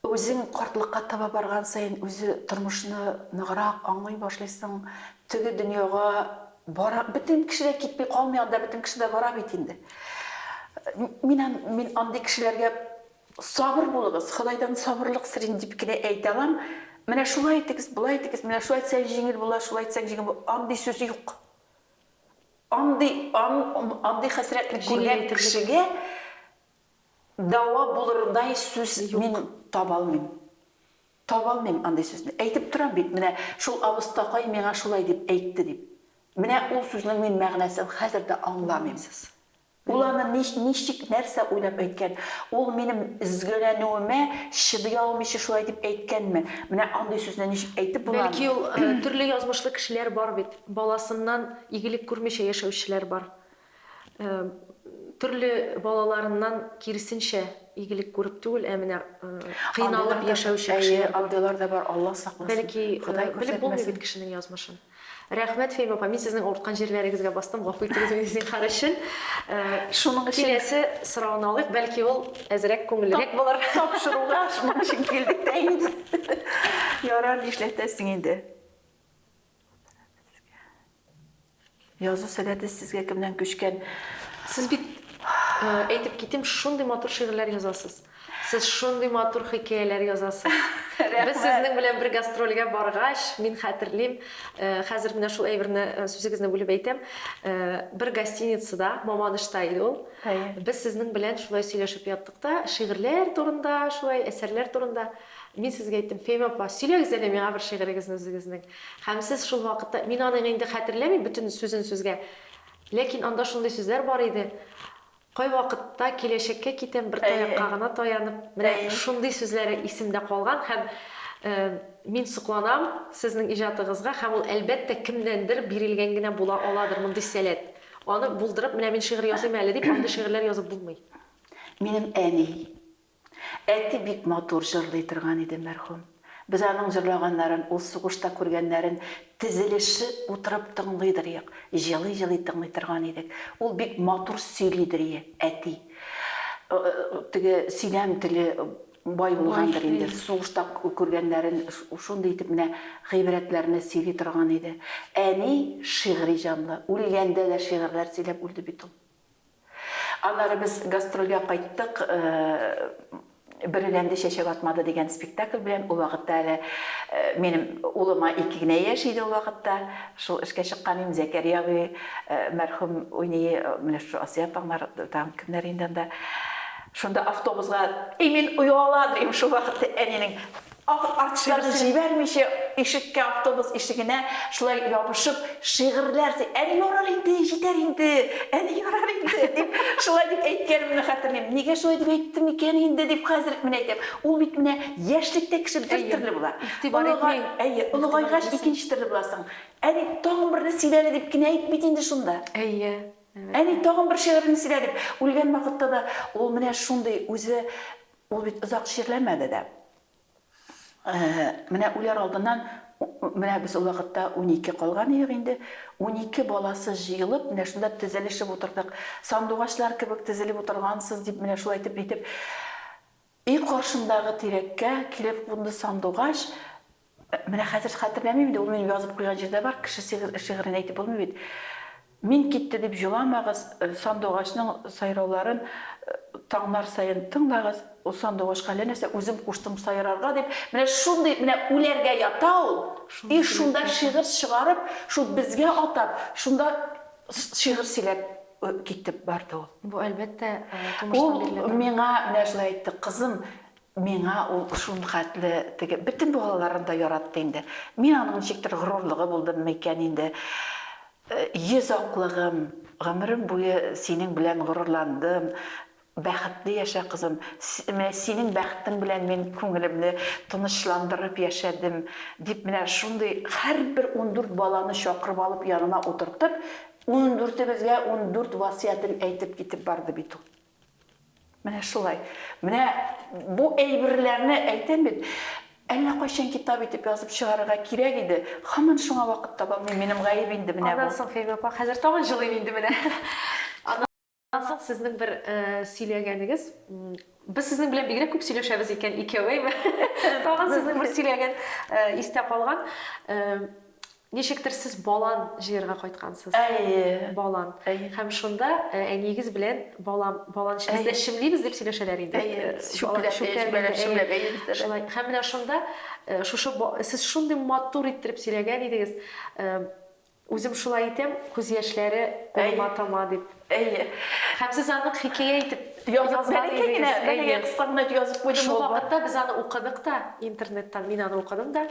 Speaker 2: үзең картлыкка таба барган саен, үзе тормышны ныграк аңлый башлыйсың. Теге дөньяга бара, бөтен кеше дә китми калмый анда, бөтен кеше дә бара бит инде. Мин мин андый кешеләргә Сабыр булыгыз, Ходайдан сабырлык сорыйм, дип кенә әйтә алам. Менә шулай итегез, болай итегез, менә шулай итсәң җиңел була, шулай итсәң җиңел була, андый сүз юк. Андый, ан, андый хәсрәтне күргән кешегә дәва булырдай сүз мин таба алмыйм. Таба алмыйм андый сүзне. Әйтеп торам бит, менә шул абыстакай миңа шулай дип әйтте, дип. Менә ул сүзнең мин мәгънәсен хәзер дә аңламыйм. Аңламыйсыз. Ул аны нич, ничек, нәрсә уйлап әйткән? Ул минем өзгәләнүемә чыдый алмыйча шулай дип әйткәнме? Менә андый сүзне ничек әйтеп була аны? Бәлки ул, төрле
Speaker 1: язмышлы кешеләр бар бит, баласыннан игелек күрмичә яшәүчеләр бар. Төрле балаларыннан киресенчә игелек күреп түгел, ә менә кыйналып яшәүче кешеләр бар. Әйе, андыйлар да бар, Алла
Speaker 2: сакласын, Ходай күрсәтмәсен. Белеп
Speaker 1: булмый бит кешенең язмышын. Рәхмәт, Фәймә апа, мин сезнең авырткан җирләрегезгә бастым, гафу итегез мине зинһар өчен. Шуның
Speaker 2: өчен. Киләсе сорауны алыйк,
Speaker 1: бәлки ул әзрәк күңеллерәк булыр. Тапшыруга шуның
Speaker 2: өчен килдек тә инде. Ярар, нишләтәсең инде. Язу сәләте сезгә кемнән күчкән? Сез бит,
Speaker 1: әйтеп китим, шундый матур шигырьләр язасыз. Сез шундый матур хикәяләр язасыз. Рәхмәт. Без сезнең белән бер гастрольгә баргач, мин хәтерлим, хәзер менә шул әйберне сүзегезне бүлеп әйтәм, бер гостиницада, Мамадышта иде ул. Әйе. Без сезнең белән шулай сөйләшеп яттык та, шигырьләр турында, шулай әсәрләр турында. Мин сезгә әйттем, Фәймә апа, сөйләгез әле миңа бер шигырегезне үзегезнең. Һәм сез шул вакытта, мин аның инде хәтерләмим бөтен сүзен сүзгә, ләкин анда шундый сүзләр бар иде, Кайвакытта киләчәккә китәм, бер таякка гына таянып, менә шундый сүзләре исемдә калган һәм Мин сокланам Сезнең иҗатыгызга һәм ул, әлбәттә, кемнәндер бирелгән генә була аладыр мондый сәләт. Аны булдырып, менә мин шигырь языйм әле дип, андый шигырьләр язып булмый. Минем
Speaker 2: әни, Әти бик матур җырлый торган иде мәрхүм. Без аның җырлаганнарын, ул сугышта күргәннәрен тезелешеп утырып тыңлыйдырыек, җылый-җылый тыңлый торган идек. Ул бик матур сөйлидерие, әти. Теге сөйләм теле бай булгандыр инде, сугышта күргәннәрен шундый итеп менә гыйбрәтләрне сөйли торган иде. Әни шигъри җанлы, үлгәндә дә шигырьләр сөйләп үлде бит ул. Аннары без гастрольгә кайттык, Бөреләнде чәчәк атмады дигән спектакль белән. Ул вакытта әле минем улыма ике генә яшь иде ул вакытта. Шул эшкә чыккан идем, Зәкәрия абый мәрхүм уйный, менә шушы Асия апаңнар, тагын кемнәр инде анда. Шунда автобусга, и мин ояла дим, шул вакытта әнинең Ах, артистларны җибәрмичә, ишеккә, автобус ишегенә шулай ябышып, шигырьләр сөй. Әле ярар инде, җитәр инде, әле ярар инде, дип, шулай дип әйткәнемне хәтерлим. Нигә шулай дип әйттем икән инде, дип хәзер үк менә әйтәм. Ул бит менә яшьлектә кеше бер төрле була. Игътибар итми. Әйе, олыгайгач икенче төрле буласың. Әни, тагын берне сөйлә әле, дип кенә әйт бит инде шунда. Әйе, әлбәттә. Әни, тагын бер шигыреңне сөйлә, дип. Үлгән вакытта да ул менә шундый, үзе Ул бит озак чирләмәде дә. Менә үләр алдыннан, менә без ул вакытта унике калган идек инде, унике баласы җыелып, менә шунда тезелешеп утырдык. Сандугачлар кебек тезелеп утыргансыз, дип, менә шулай итеп, нитеп, өй каршындагы тирәккә килеп кунды сандугач. Менә хәзер схәтерләмим инде, ул минем язып куйган җирдә бар, кеше шигырен әйтеп булмый бит. Мин китте дип җоламагыз, сандугачның сайрауларын таңнар саен тыңлагыз, ул сандугачка әллә нәрсә, үзем куштым сайрарга дип, менә шундый, менә үләргә ята ул, и шунда шигырь чыгарып, шул безгә атап, шунда шигырь сөйләп китеп барды ул. Бу әлбәттә тумыштан
Speaker 1: бирелә торган. Ул миңа менә шулай
Speaker 2: әйтте, кызым, Миңа ул шулхәтле теге бөтен балаларын да яратты инде. Мин аның ничектер горурлыгы булдыммы икән инде. Йөз аклыгым, гомерем буе синең белән горурландым, бәхетле яшә, кызым, менә синең бәхетең белән мин күңелемне тынычландырып яшәдем, дип менә шундый һәрбер ундүрт баланы чакырып алып янына утыртып, ундүртебезгә ундүрт васыятен әйтеп китеп барды бит ул. Менә шулай. Менә бу әйберләрне әйтәм бит, әллә кайчан китап итеп язып чыгарырга кирәк иде, һаман шуңа вакыт таба алмыйм, минем гаеп инде менә бу. Аннан соң, Фәймә апа, хәзер тагын
Speaker 1: җылыйм инде менә. Аннан соң сезнең бер сөйләгәнегез, без сезнең белән бигрәк күп сөйләшәбез икән, икәү, әйме? Тагын сезнең бер сөйләгән истә калган. Ничектер сез балан җыярга кайткансыз. Әйе. Балан. Әйе. Һәм шунда әниегез белән балан, балан чы, без дә чемлибез дип сөйләшәләр иде. Әйе. Чүпләп, чүпләп, чүпләп, әйе, без дә. Шулай. Һәм менә шунда шушы сез шундый матур иттереп сөйләгән идегез. Үзем шулай итәм, күз яшьләре кулыма тама дип. Әйе. Һәм сез аны хикәя итеп
Speaker 2: язган идегез. Әйе,
Speaker 1: кыска гына итеп
Speaker 2: язып куйдым. Шул вакытта без аны
Speaker 1: укыдык та, интернеттан мин аны укыдым да,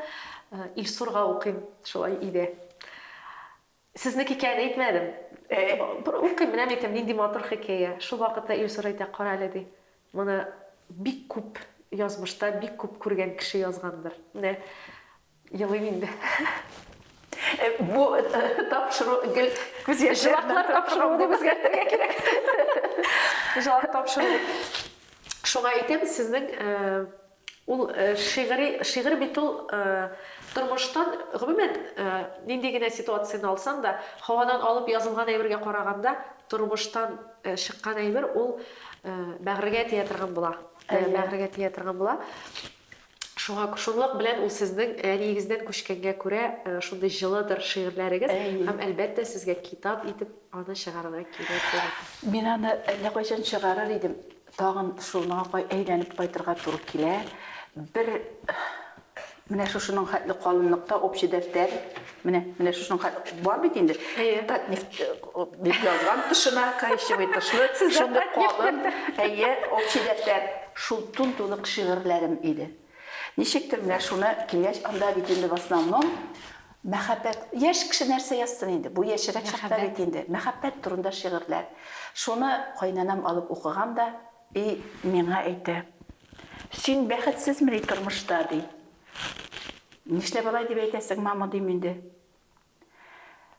Speaker 1: Илсурга укыйм, шулай иде. Сезнең хикәяне әйтмәдем. Бер укыйм, менә әйтәм, нинди матур хикәя. Шул вакытта Илсур әйтә, кара әле, ди, моны бик күп язмышта, бик күп күргән кеше язгандыр. Менә Елыйм инде.
Speaker 2: Бу тапшыру гел күз яше вакытлар тапшыру
Speaker 1: дип үзгәртергә кирәк. Җавап тапшыру. Шуңа әйтәм, сезнең ул шигъри, шигырь бит ул тормыштан, гомумән, нинди генә ситуацияне алсаң да, һавадан алып язылган әйбергә караганда, тормыштан чыккан әйбер ул бәгырьгә тия торган була. Бәгырьгә тия торган була. Шуңа шунлык белән ул сезнең әниегездән күчкәнгә күрә шундый җылыдыр шигырьләрегез һәм әлбәттә сезгә китап итеп аны чыгарырга кирәк булыр. Мин аны
Speaker 2: әллә кайчан чыгарыр идем, тагын шул моңа әйләнеп кайтырга туры килә. Бер менә шушының хәтле калынлыкта общий дәфтәр Менә, менә шушының ка- бар бит инде. Әйе. Татнефть э, дип язган тышына, коричневый тышлы, Сездә шундый татнефть калын, бер- әйе, общий дәфтәр. Шул тун-тулык шигырьләрем иде. Ничектер менә шуны килгәч, анда бит инде в основном мәхәббәт. Яшь кеше нәрсә язсын инде? Бу яшьрәк чакта Мәхәббәт. бит инде. Мәхәббәт турында шигырьләр. Шуны кайнанам алып укыган да, И миңа әйтә, Син бәхетсезмени тормышта, ди. Нишләп алай дип әйтәсең, мама, дим инде.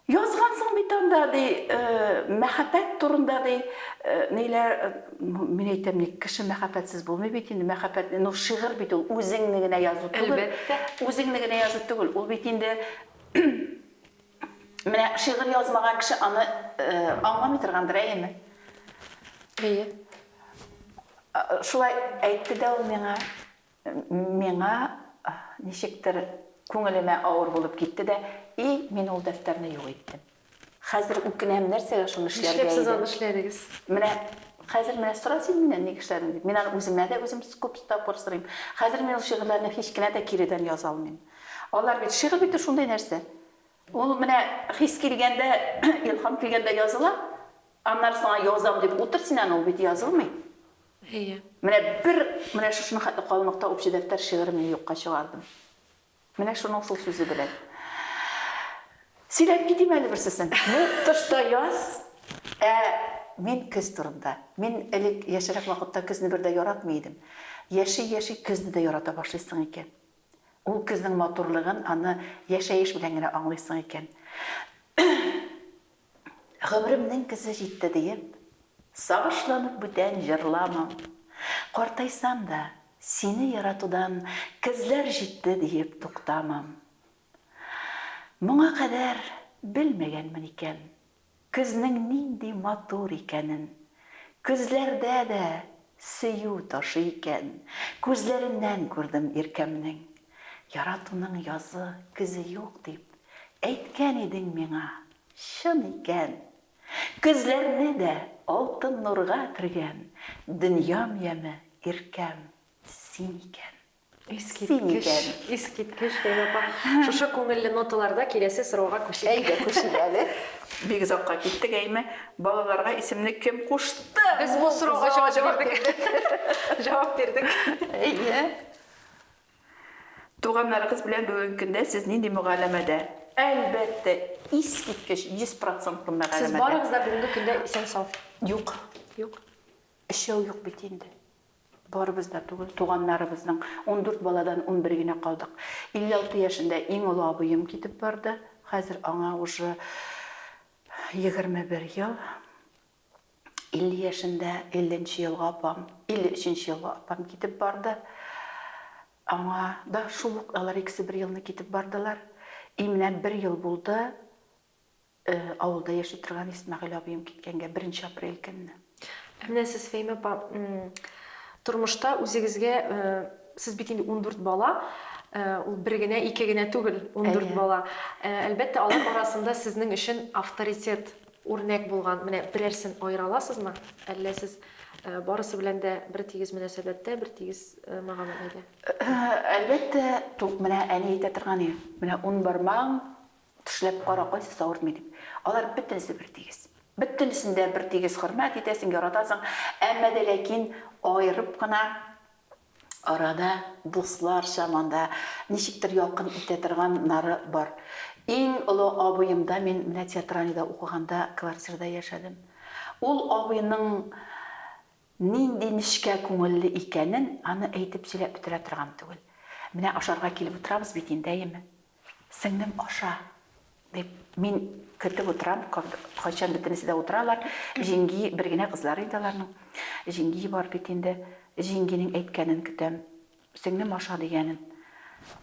Speaker 2: Язгансың бит анда, ди, мәхәббәт турында, ди, ниләр, мин әйтәм, ник кеше мәхәббәтсез булмый бит инде, мәхәббәт, ну, шигырь бит ул, үзеңне генә язу түгел. Әлбәттә. Үзеңне
Speaker 1: генә язу
Speaker 2: түгел. Ул бит инде Менә шигырь язмаган кеше аны аңламый торгандыр, әйеме? Әйе. Шулай әйтте дә ул миңа. Миңа ничектер күңелемә авыр булып китте дә, и, мин ул дәфтәрне юк иттем. Хәзер үкенәм, нәрсәгә шуны эшләргә иде. Нишләп сез аны эшләдегез?
Speaker 1: Менә
Speaker 2: хәзер менә сора син миннән ник эшләдең дип. Мин аны үземә дә үзем күп тапкыр сорыйм. Хәзер мин ул шигырьләрне һич кенә дә киредән яза алмыйм. Алар бит, шигырь бит ул шундый нәрсә. Ул менә хис килгәндә, илһам килгәндә языла, аннары соң язам дип утыр син аны, ул бит язылмый. Әйе. Менә бер, менә шушының хәтле калынлыкта Общий дәфтәр шигырен мин юкка чыгардым. Менә шуның шул сүзе белән. Сөйләп китим әле берсесен. Ну, тышта яз, ә мин көз турында. Мин элек яшьрәк вакытта көзне бер дә яратмый идем. Яши-яши көзне дә ярата башлыйсың икән. Ул көзнең матурлыгын аны яшәеш белән генә аңлыйсың икән. Гомеремнең көзе җитте диеп, сагышланып бүтән җырламам. Картайсам да, сине яратудан көзләр җитте диеп туктамам. Моңа кадәр белмәгәнмен икән, Көзнең нинди матур икәнен. Көзләрдә дә сөю ташый икән. Күзләреннән күрдем иркәмнең. Яратуның язы, көзе юк дип. Әйткән идең миңа, чын икән. Көзләрне дә алтын нурга кергән. Дөньям яме, иркәм, син икән. Искиткеч,
Speaker 1: искиткеч, Фәйрапа. Шушы күңелле ноталарда киләсе сорауга күчик. Әйдә, күчик әле.
Speaker 2: Бик озакка киттек, әйме. Балаларга исемне кем кушты? Без бу сорауга
Speaker 1: җавап бирдек. Җавап бирдек. Әйе.
Speaker 2: Туганнарыгыз белән бүгенге көндә сез нинди мөгаләмәдә? Әлбәттә, искиткеч, 100 процентлы мөгаләмәдә. Сез барыгыз да бүгенге
Speaker 1: көндә исән-сау? Юк.
Speaker 2: Юк. Өчәү юк бит инде. Барыбыз да түгел, туганнарыбызның ундүрт баладан унбер генә калдык. 56 яшендә иң олы абыем китеп барды. Хәзер аңа уже 21 ел. 50 яшендә, 50 нче елгы апам, 53 нче елгы апам китеп барды. Аңа да шул ук, алар икесе бер елны китеп бардылар. И менә бер ел булды, Авылда яши торган Исмәгыйль абыем киткәнгә беренче апрель көнне. Ә менә сез,
Speaker 1: Фәимә апа, тормышта үзегезгә, сез бит инде ундүрт бала, ул бер генә, ике генә түгел, ундүрт бала. Әлбәттә, алар арасында сезнең өчен авторитет, үрнәк булган менә берәрсен аера аласызмы? Әллә сез барысы белән дә бертигез мөнәсәбәттә, бертигез мәгамәләдә?
Speaker 2: Әлбәттә, менә әни әйтә торган иде, менә ун бармагың Тешләп кара, кайсысы авыртмый дип. Алар бөтенесе бертигез. Бөтенесен дә бертигез хөрмәт итәсең, яратасың, әмма дә ләкин аерып кына, арада дусларча монда ничектер якын итә торган нары бар. Иң олы абыемда мин менә театральныйда укыганда квартирада яшәдем. Ул абыйның нинди нечкә күңелле икәнен аны әйтеп сөйләп бетерә торган түгел. Менә ашарга килеп утырабыз бит инде, әйеме? Сеңлем, аша, дип, мин көтеп утырам, кайчан бөтенесе дә утыралар. Җиңги, бер генә кызлары инде аларның. Җиңги бар бит инде. Җиңгинең әйткәнен көтәм. Сеңлем, аша, дигәнен.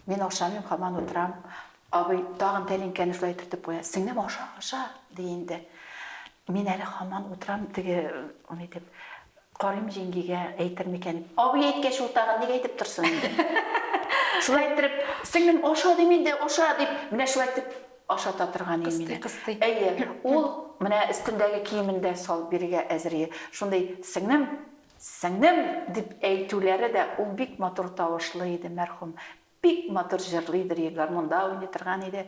Speaker 2: Мин ашамыйм, һаман утырам. Абый тагын тәлинкәне шулай төртеп куя. Сеңлем, аша, аша, ди инде. Мин әле һаман утырам, теге, ни дип, Карыйм җиңгигә әйтер микән? Абый әйткәч ул тагын ник әйтеп торсын инде. Шулай иттереп, сеңлем, аша дим инде, аша, дип, менә шулай итеп ашата торган иде мине. Кыстый, кыстый. Әйе,
Speaker 1: ул
Speaker 2: менә өстендәге киемен дә салып бирергә әзер иде. Шундый сеңлем, сеңлем дип әйтүләре дә, ул бик матур тавышлы иде, мәрхүм. Бик матур җырлый дер иде, гармунда уйный торган иде.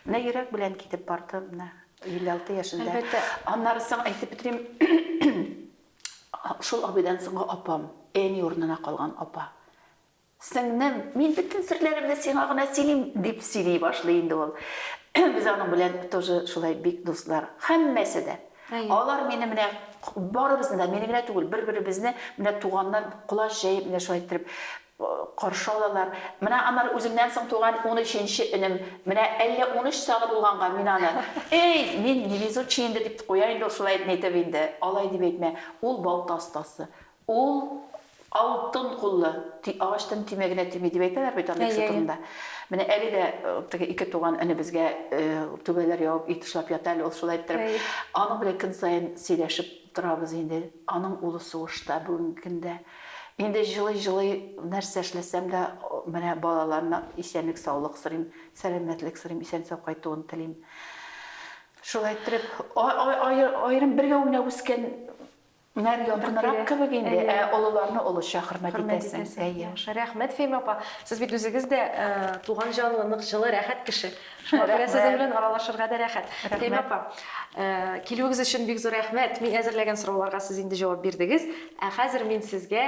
Speaker 2: Менә йөрәк белән китеп барды, менә 56 яшендә. Әлбәттә. Аннары соң әйтеп бетерим, шул абыйдан соңгы апам, әни урынына калган апа. Сеңнем, мин бөтен серләремне сиңа гына сөйлим, дип сөйли башлый инде ул. Без аның белән тоже шулай бик дуслар. Һәммәсе дә. Алар мине менә барыбызны да, мине генә түгел, бер-беребезне, менә туганнар колач җәеп, менә шулай иттереп, Каршы алалар. Менә аннары үземнән соң туган унөченче энем, менә әллә унөч чагы булганга, мин аны, Эй, мин невезучий инде, дип куям инде ул шулай нитеп инде. Алай дип әйтмә. Ул балта остасы. Ул алтын куллы. Ти, агачтан төймә генә төйми, дип әйтәләр бит андый кеше турында. Менә әле дә теге ике туган энебезгә түбәләр ябып, өй тышлап ята әле ул шулай иттереп. Аның белән көн саен сөйләшеп. Торабыз инде, аның улы сугышта бүгенге көндә. Инде җылый-җылый нәрсә эшләсәм дә, менә балаларына исәнлек-саулык сорыйм, сәламәтлек сорыйм, исән-сау кайтуын телим. Шулай иттереп, аерым бергә уйнап үскәннәр якынрак кебек инде, ә олыларны олыча хөрмәт итәсең. Рәхмәт, Фәймә
Speaker 1: апа. Сез бит үзегез дә туган җанлы, нык, җылы, рәхәт кеше. Шуңа күрә сезнең белән аралашырга да рәхәт. Фәһимә апа, килүегез өчен бик зур рәхмәт. Мин әзерләгән сорауларга сез инде җавап бирдегез. Ә хәзер мин сезгә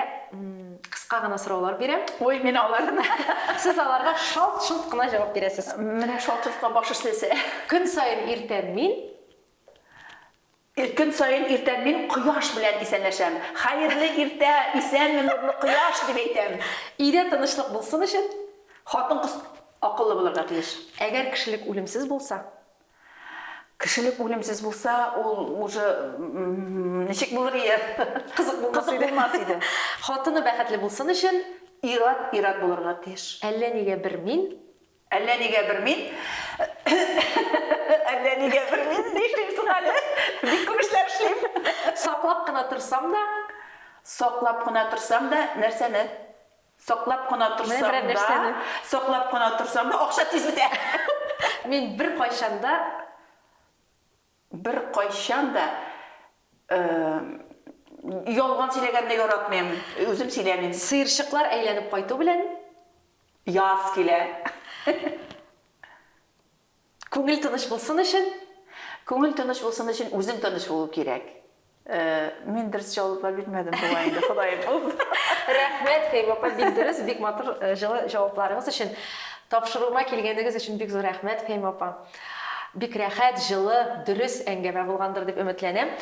Speaker 1: кыска гына сораулар бирәм. Ой, мин аларны.
Speaker 2: Сез аларга
Speaker 1: шалт-шолт кына җавап бирәсез. Менә шалт-шолтка
Speaker 2: баш эшләсә. Көн саен
Speaker 1: иртән мин Ир көн
Speaker 2: саен иртән мин кояш белән исәнләшәм. Хәерле иртә, исәнме, нурлы кояш, дип әйтәм. Өйдә тынычлык
Speaker 1: булсын өчен, хатын-кыз
Speaker 2: акыллы булырга тиеш. Әгәр кешелек
Speaker 1: үлемсез булса,
Speaker 2: кешелек үлемсез булса, ул уже ничек булыр ие? Кызык булмас иде. Кызык
Speaker 1: булмас иде. Хатыны бәхетле булсын өчен, ир-ат ир-ат
Speaker 2: булырга тиеш. Әллә нигә бер мин
Speaker 1: Әллә нигә бер мин,
Speaker 2: әллә нигә бер мин ни эшлим соң әле? Бик күп эшләр эшлим. Саклап кына
Speaker 1: торсам да. Саклап кына торсам да, нәрсәне?
Speaker 2: Саклап кына торсам да, саклап кына торсам да, акча тиз бетә. Мин
Speaker 1: беркайчан да. Беркайчан да
Speaker 2: ялган сөйләгәнне яратмыйм. Үзем сөйләмим. Сыерчыклар әйләнеп
Speaker 1: кайту белән. Яз
Speaker 2: килә.
Speaker 1: Күңел тыныч булсын өчен. Күңел тыныч булсын өчен үзең
Speaker 2: тыныч булу кирәк. Мин дөрес җаваплар бирмәдем бугай инде, Ходай бул. Рәхмәт,
Speaker 1: Фәймә апа, бик дөрес, бик матур, җылы җавапларыгыз өчен. Тапшыруыма килгәнегез өчен бик зур рәхмәт, Фәймә апа. Бик рәхәт, җылы, дөрес әңгәмә булгандыр дип өметләнәм.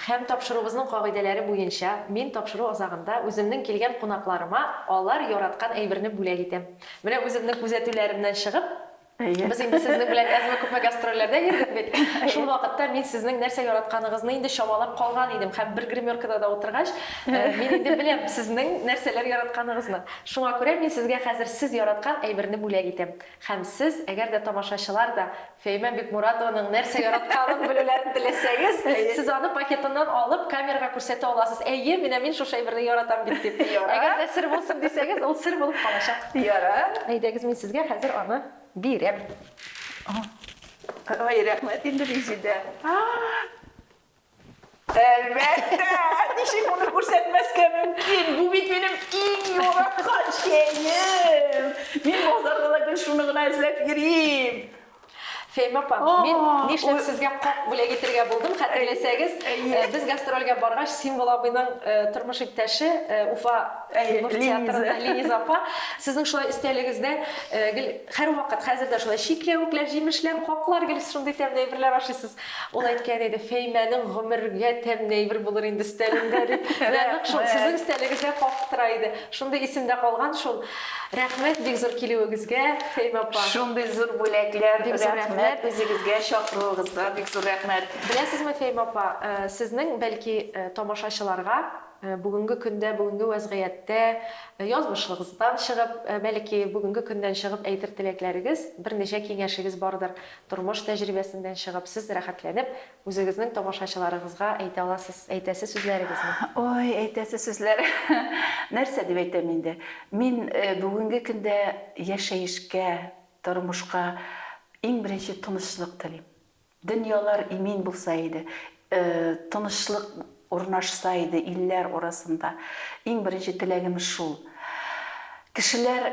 Speaker 1: Һәм тапшыруыбызның кагыйдәләре буенча, мин тапшыру азагында үземнең килгән кунакларыма алар яраткан әйберне бүләк итәм. Менә үземнең күзәтүләремнән чыгып, Без инде сезнең белән әзме-күпме гастрольләрдә йөрдек бит. Шул вакытта мин сезнең нәрсә яратканыгызны инде чамалап калган идем һәм бер гримеркада да утыргач, мин инде беләм сезнең нәрсәләр яратканыгызны. Шуңа күрә мин сезгә хәзер сез яраткан әйберне бүләк итәм. Һәм сез, әгәр дә тамашачылар да Фәимә Бикмуратованың нәрсә яратканын белүләрен теләсәгез, сез аны пакетыннан алып, камерага күрсәтә аласыз, әйе, менә мин шушы әйберне яратам бит дип. Ярар. Әгәр дә сер булсын дисәгез, ул сер булып калачак. Ярар. Әйдәгез, мин Сезгә хәзер аны бирәм.
Speaker 2: Ай, рәхмәт инде, Резидә. Әлбәттә, ничек моны күрсәтмәскә мөмкин? Бу бит минем иң яраткан чәем. Мин базарда да гел шуны гына эзләп йөрим. Фәймә
Speaker 1: апа, мин нишләп сезгә как бүләк итергә булдым, хәтерләсәгез, без гастрольгә баргач, Символ абыйның тормыш иптәше, Уфа Кремов театрында Линиза апа, сезнең шулай өстәлегездә гел һәрвакыт, хәзер дә шулай, чикләвекләр, җимешләр, каклар, гел шундый тәмле әйберләр ашыйсыз. Ул әйткән иде, Фәймәнең гомергә тәмне әйбер булыр инде өстәлендә, дип. Менә нык шул сезнең өстәлегезгә кагып тора иде. Шундый исемдә калган шул. Рәхмәт бик зур килүегезгә, Фәймә апа. Шундый зур
Speaker 2: бүләкләр, рәхмәт үзегезгә, чакыруыгызга бик зур рәхмәт. Беләсезме, Фәймә апа,
Speaker 1: сезнең, бәлки, тамашачыларга бүгенге көндә, бүгенге вәзгыятьтә, язмышлыгыздан чыгып, бәлки, бүгенге көннән чыгып әйтер теләкләрегез, берничә киңәшегез бардыр. Тормыш тәҗрибәсеннән чыгып, сез рәхәтләнеп, үзегезнең тамашачыларыгызга әйтә аласыз, әйтәсе сүзләрегезне. Ой, әйтәсе
Speaker 2: сүзләр. Нәрсә дип әйтәм инде. Мин бүгенге көндә яшәешкә, тормышка иң беренче тынычлык телим. Дөньялар имин булса иде, тынычлык урнашса иде илләр арасында. Иң беренче теләгем шул. Кешеләр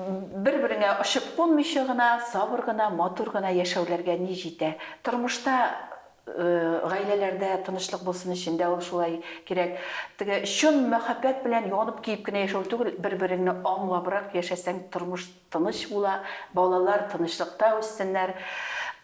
Speaker 2: Бер-береңә очып кунмыйча гына, сабыр гына, матур гына яшәүләргә ни җитә. Тормышта, гаиләләрдә тынычлык булсын өчен дә ул шулай кирәк. Теге чын мәхәббәт белән янып-көеп кенә яшәү түгел, бер-береңне аңлабрак яшәсәң, тормыш тыныч була, балалар тынычлыкта үссеннәр.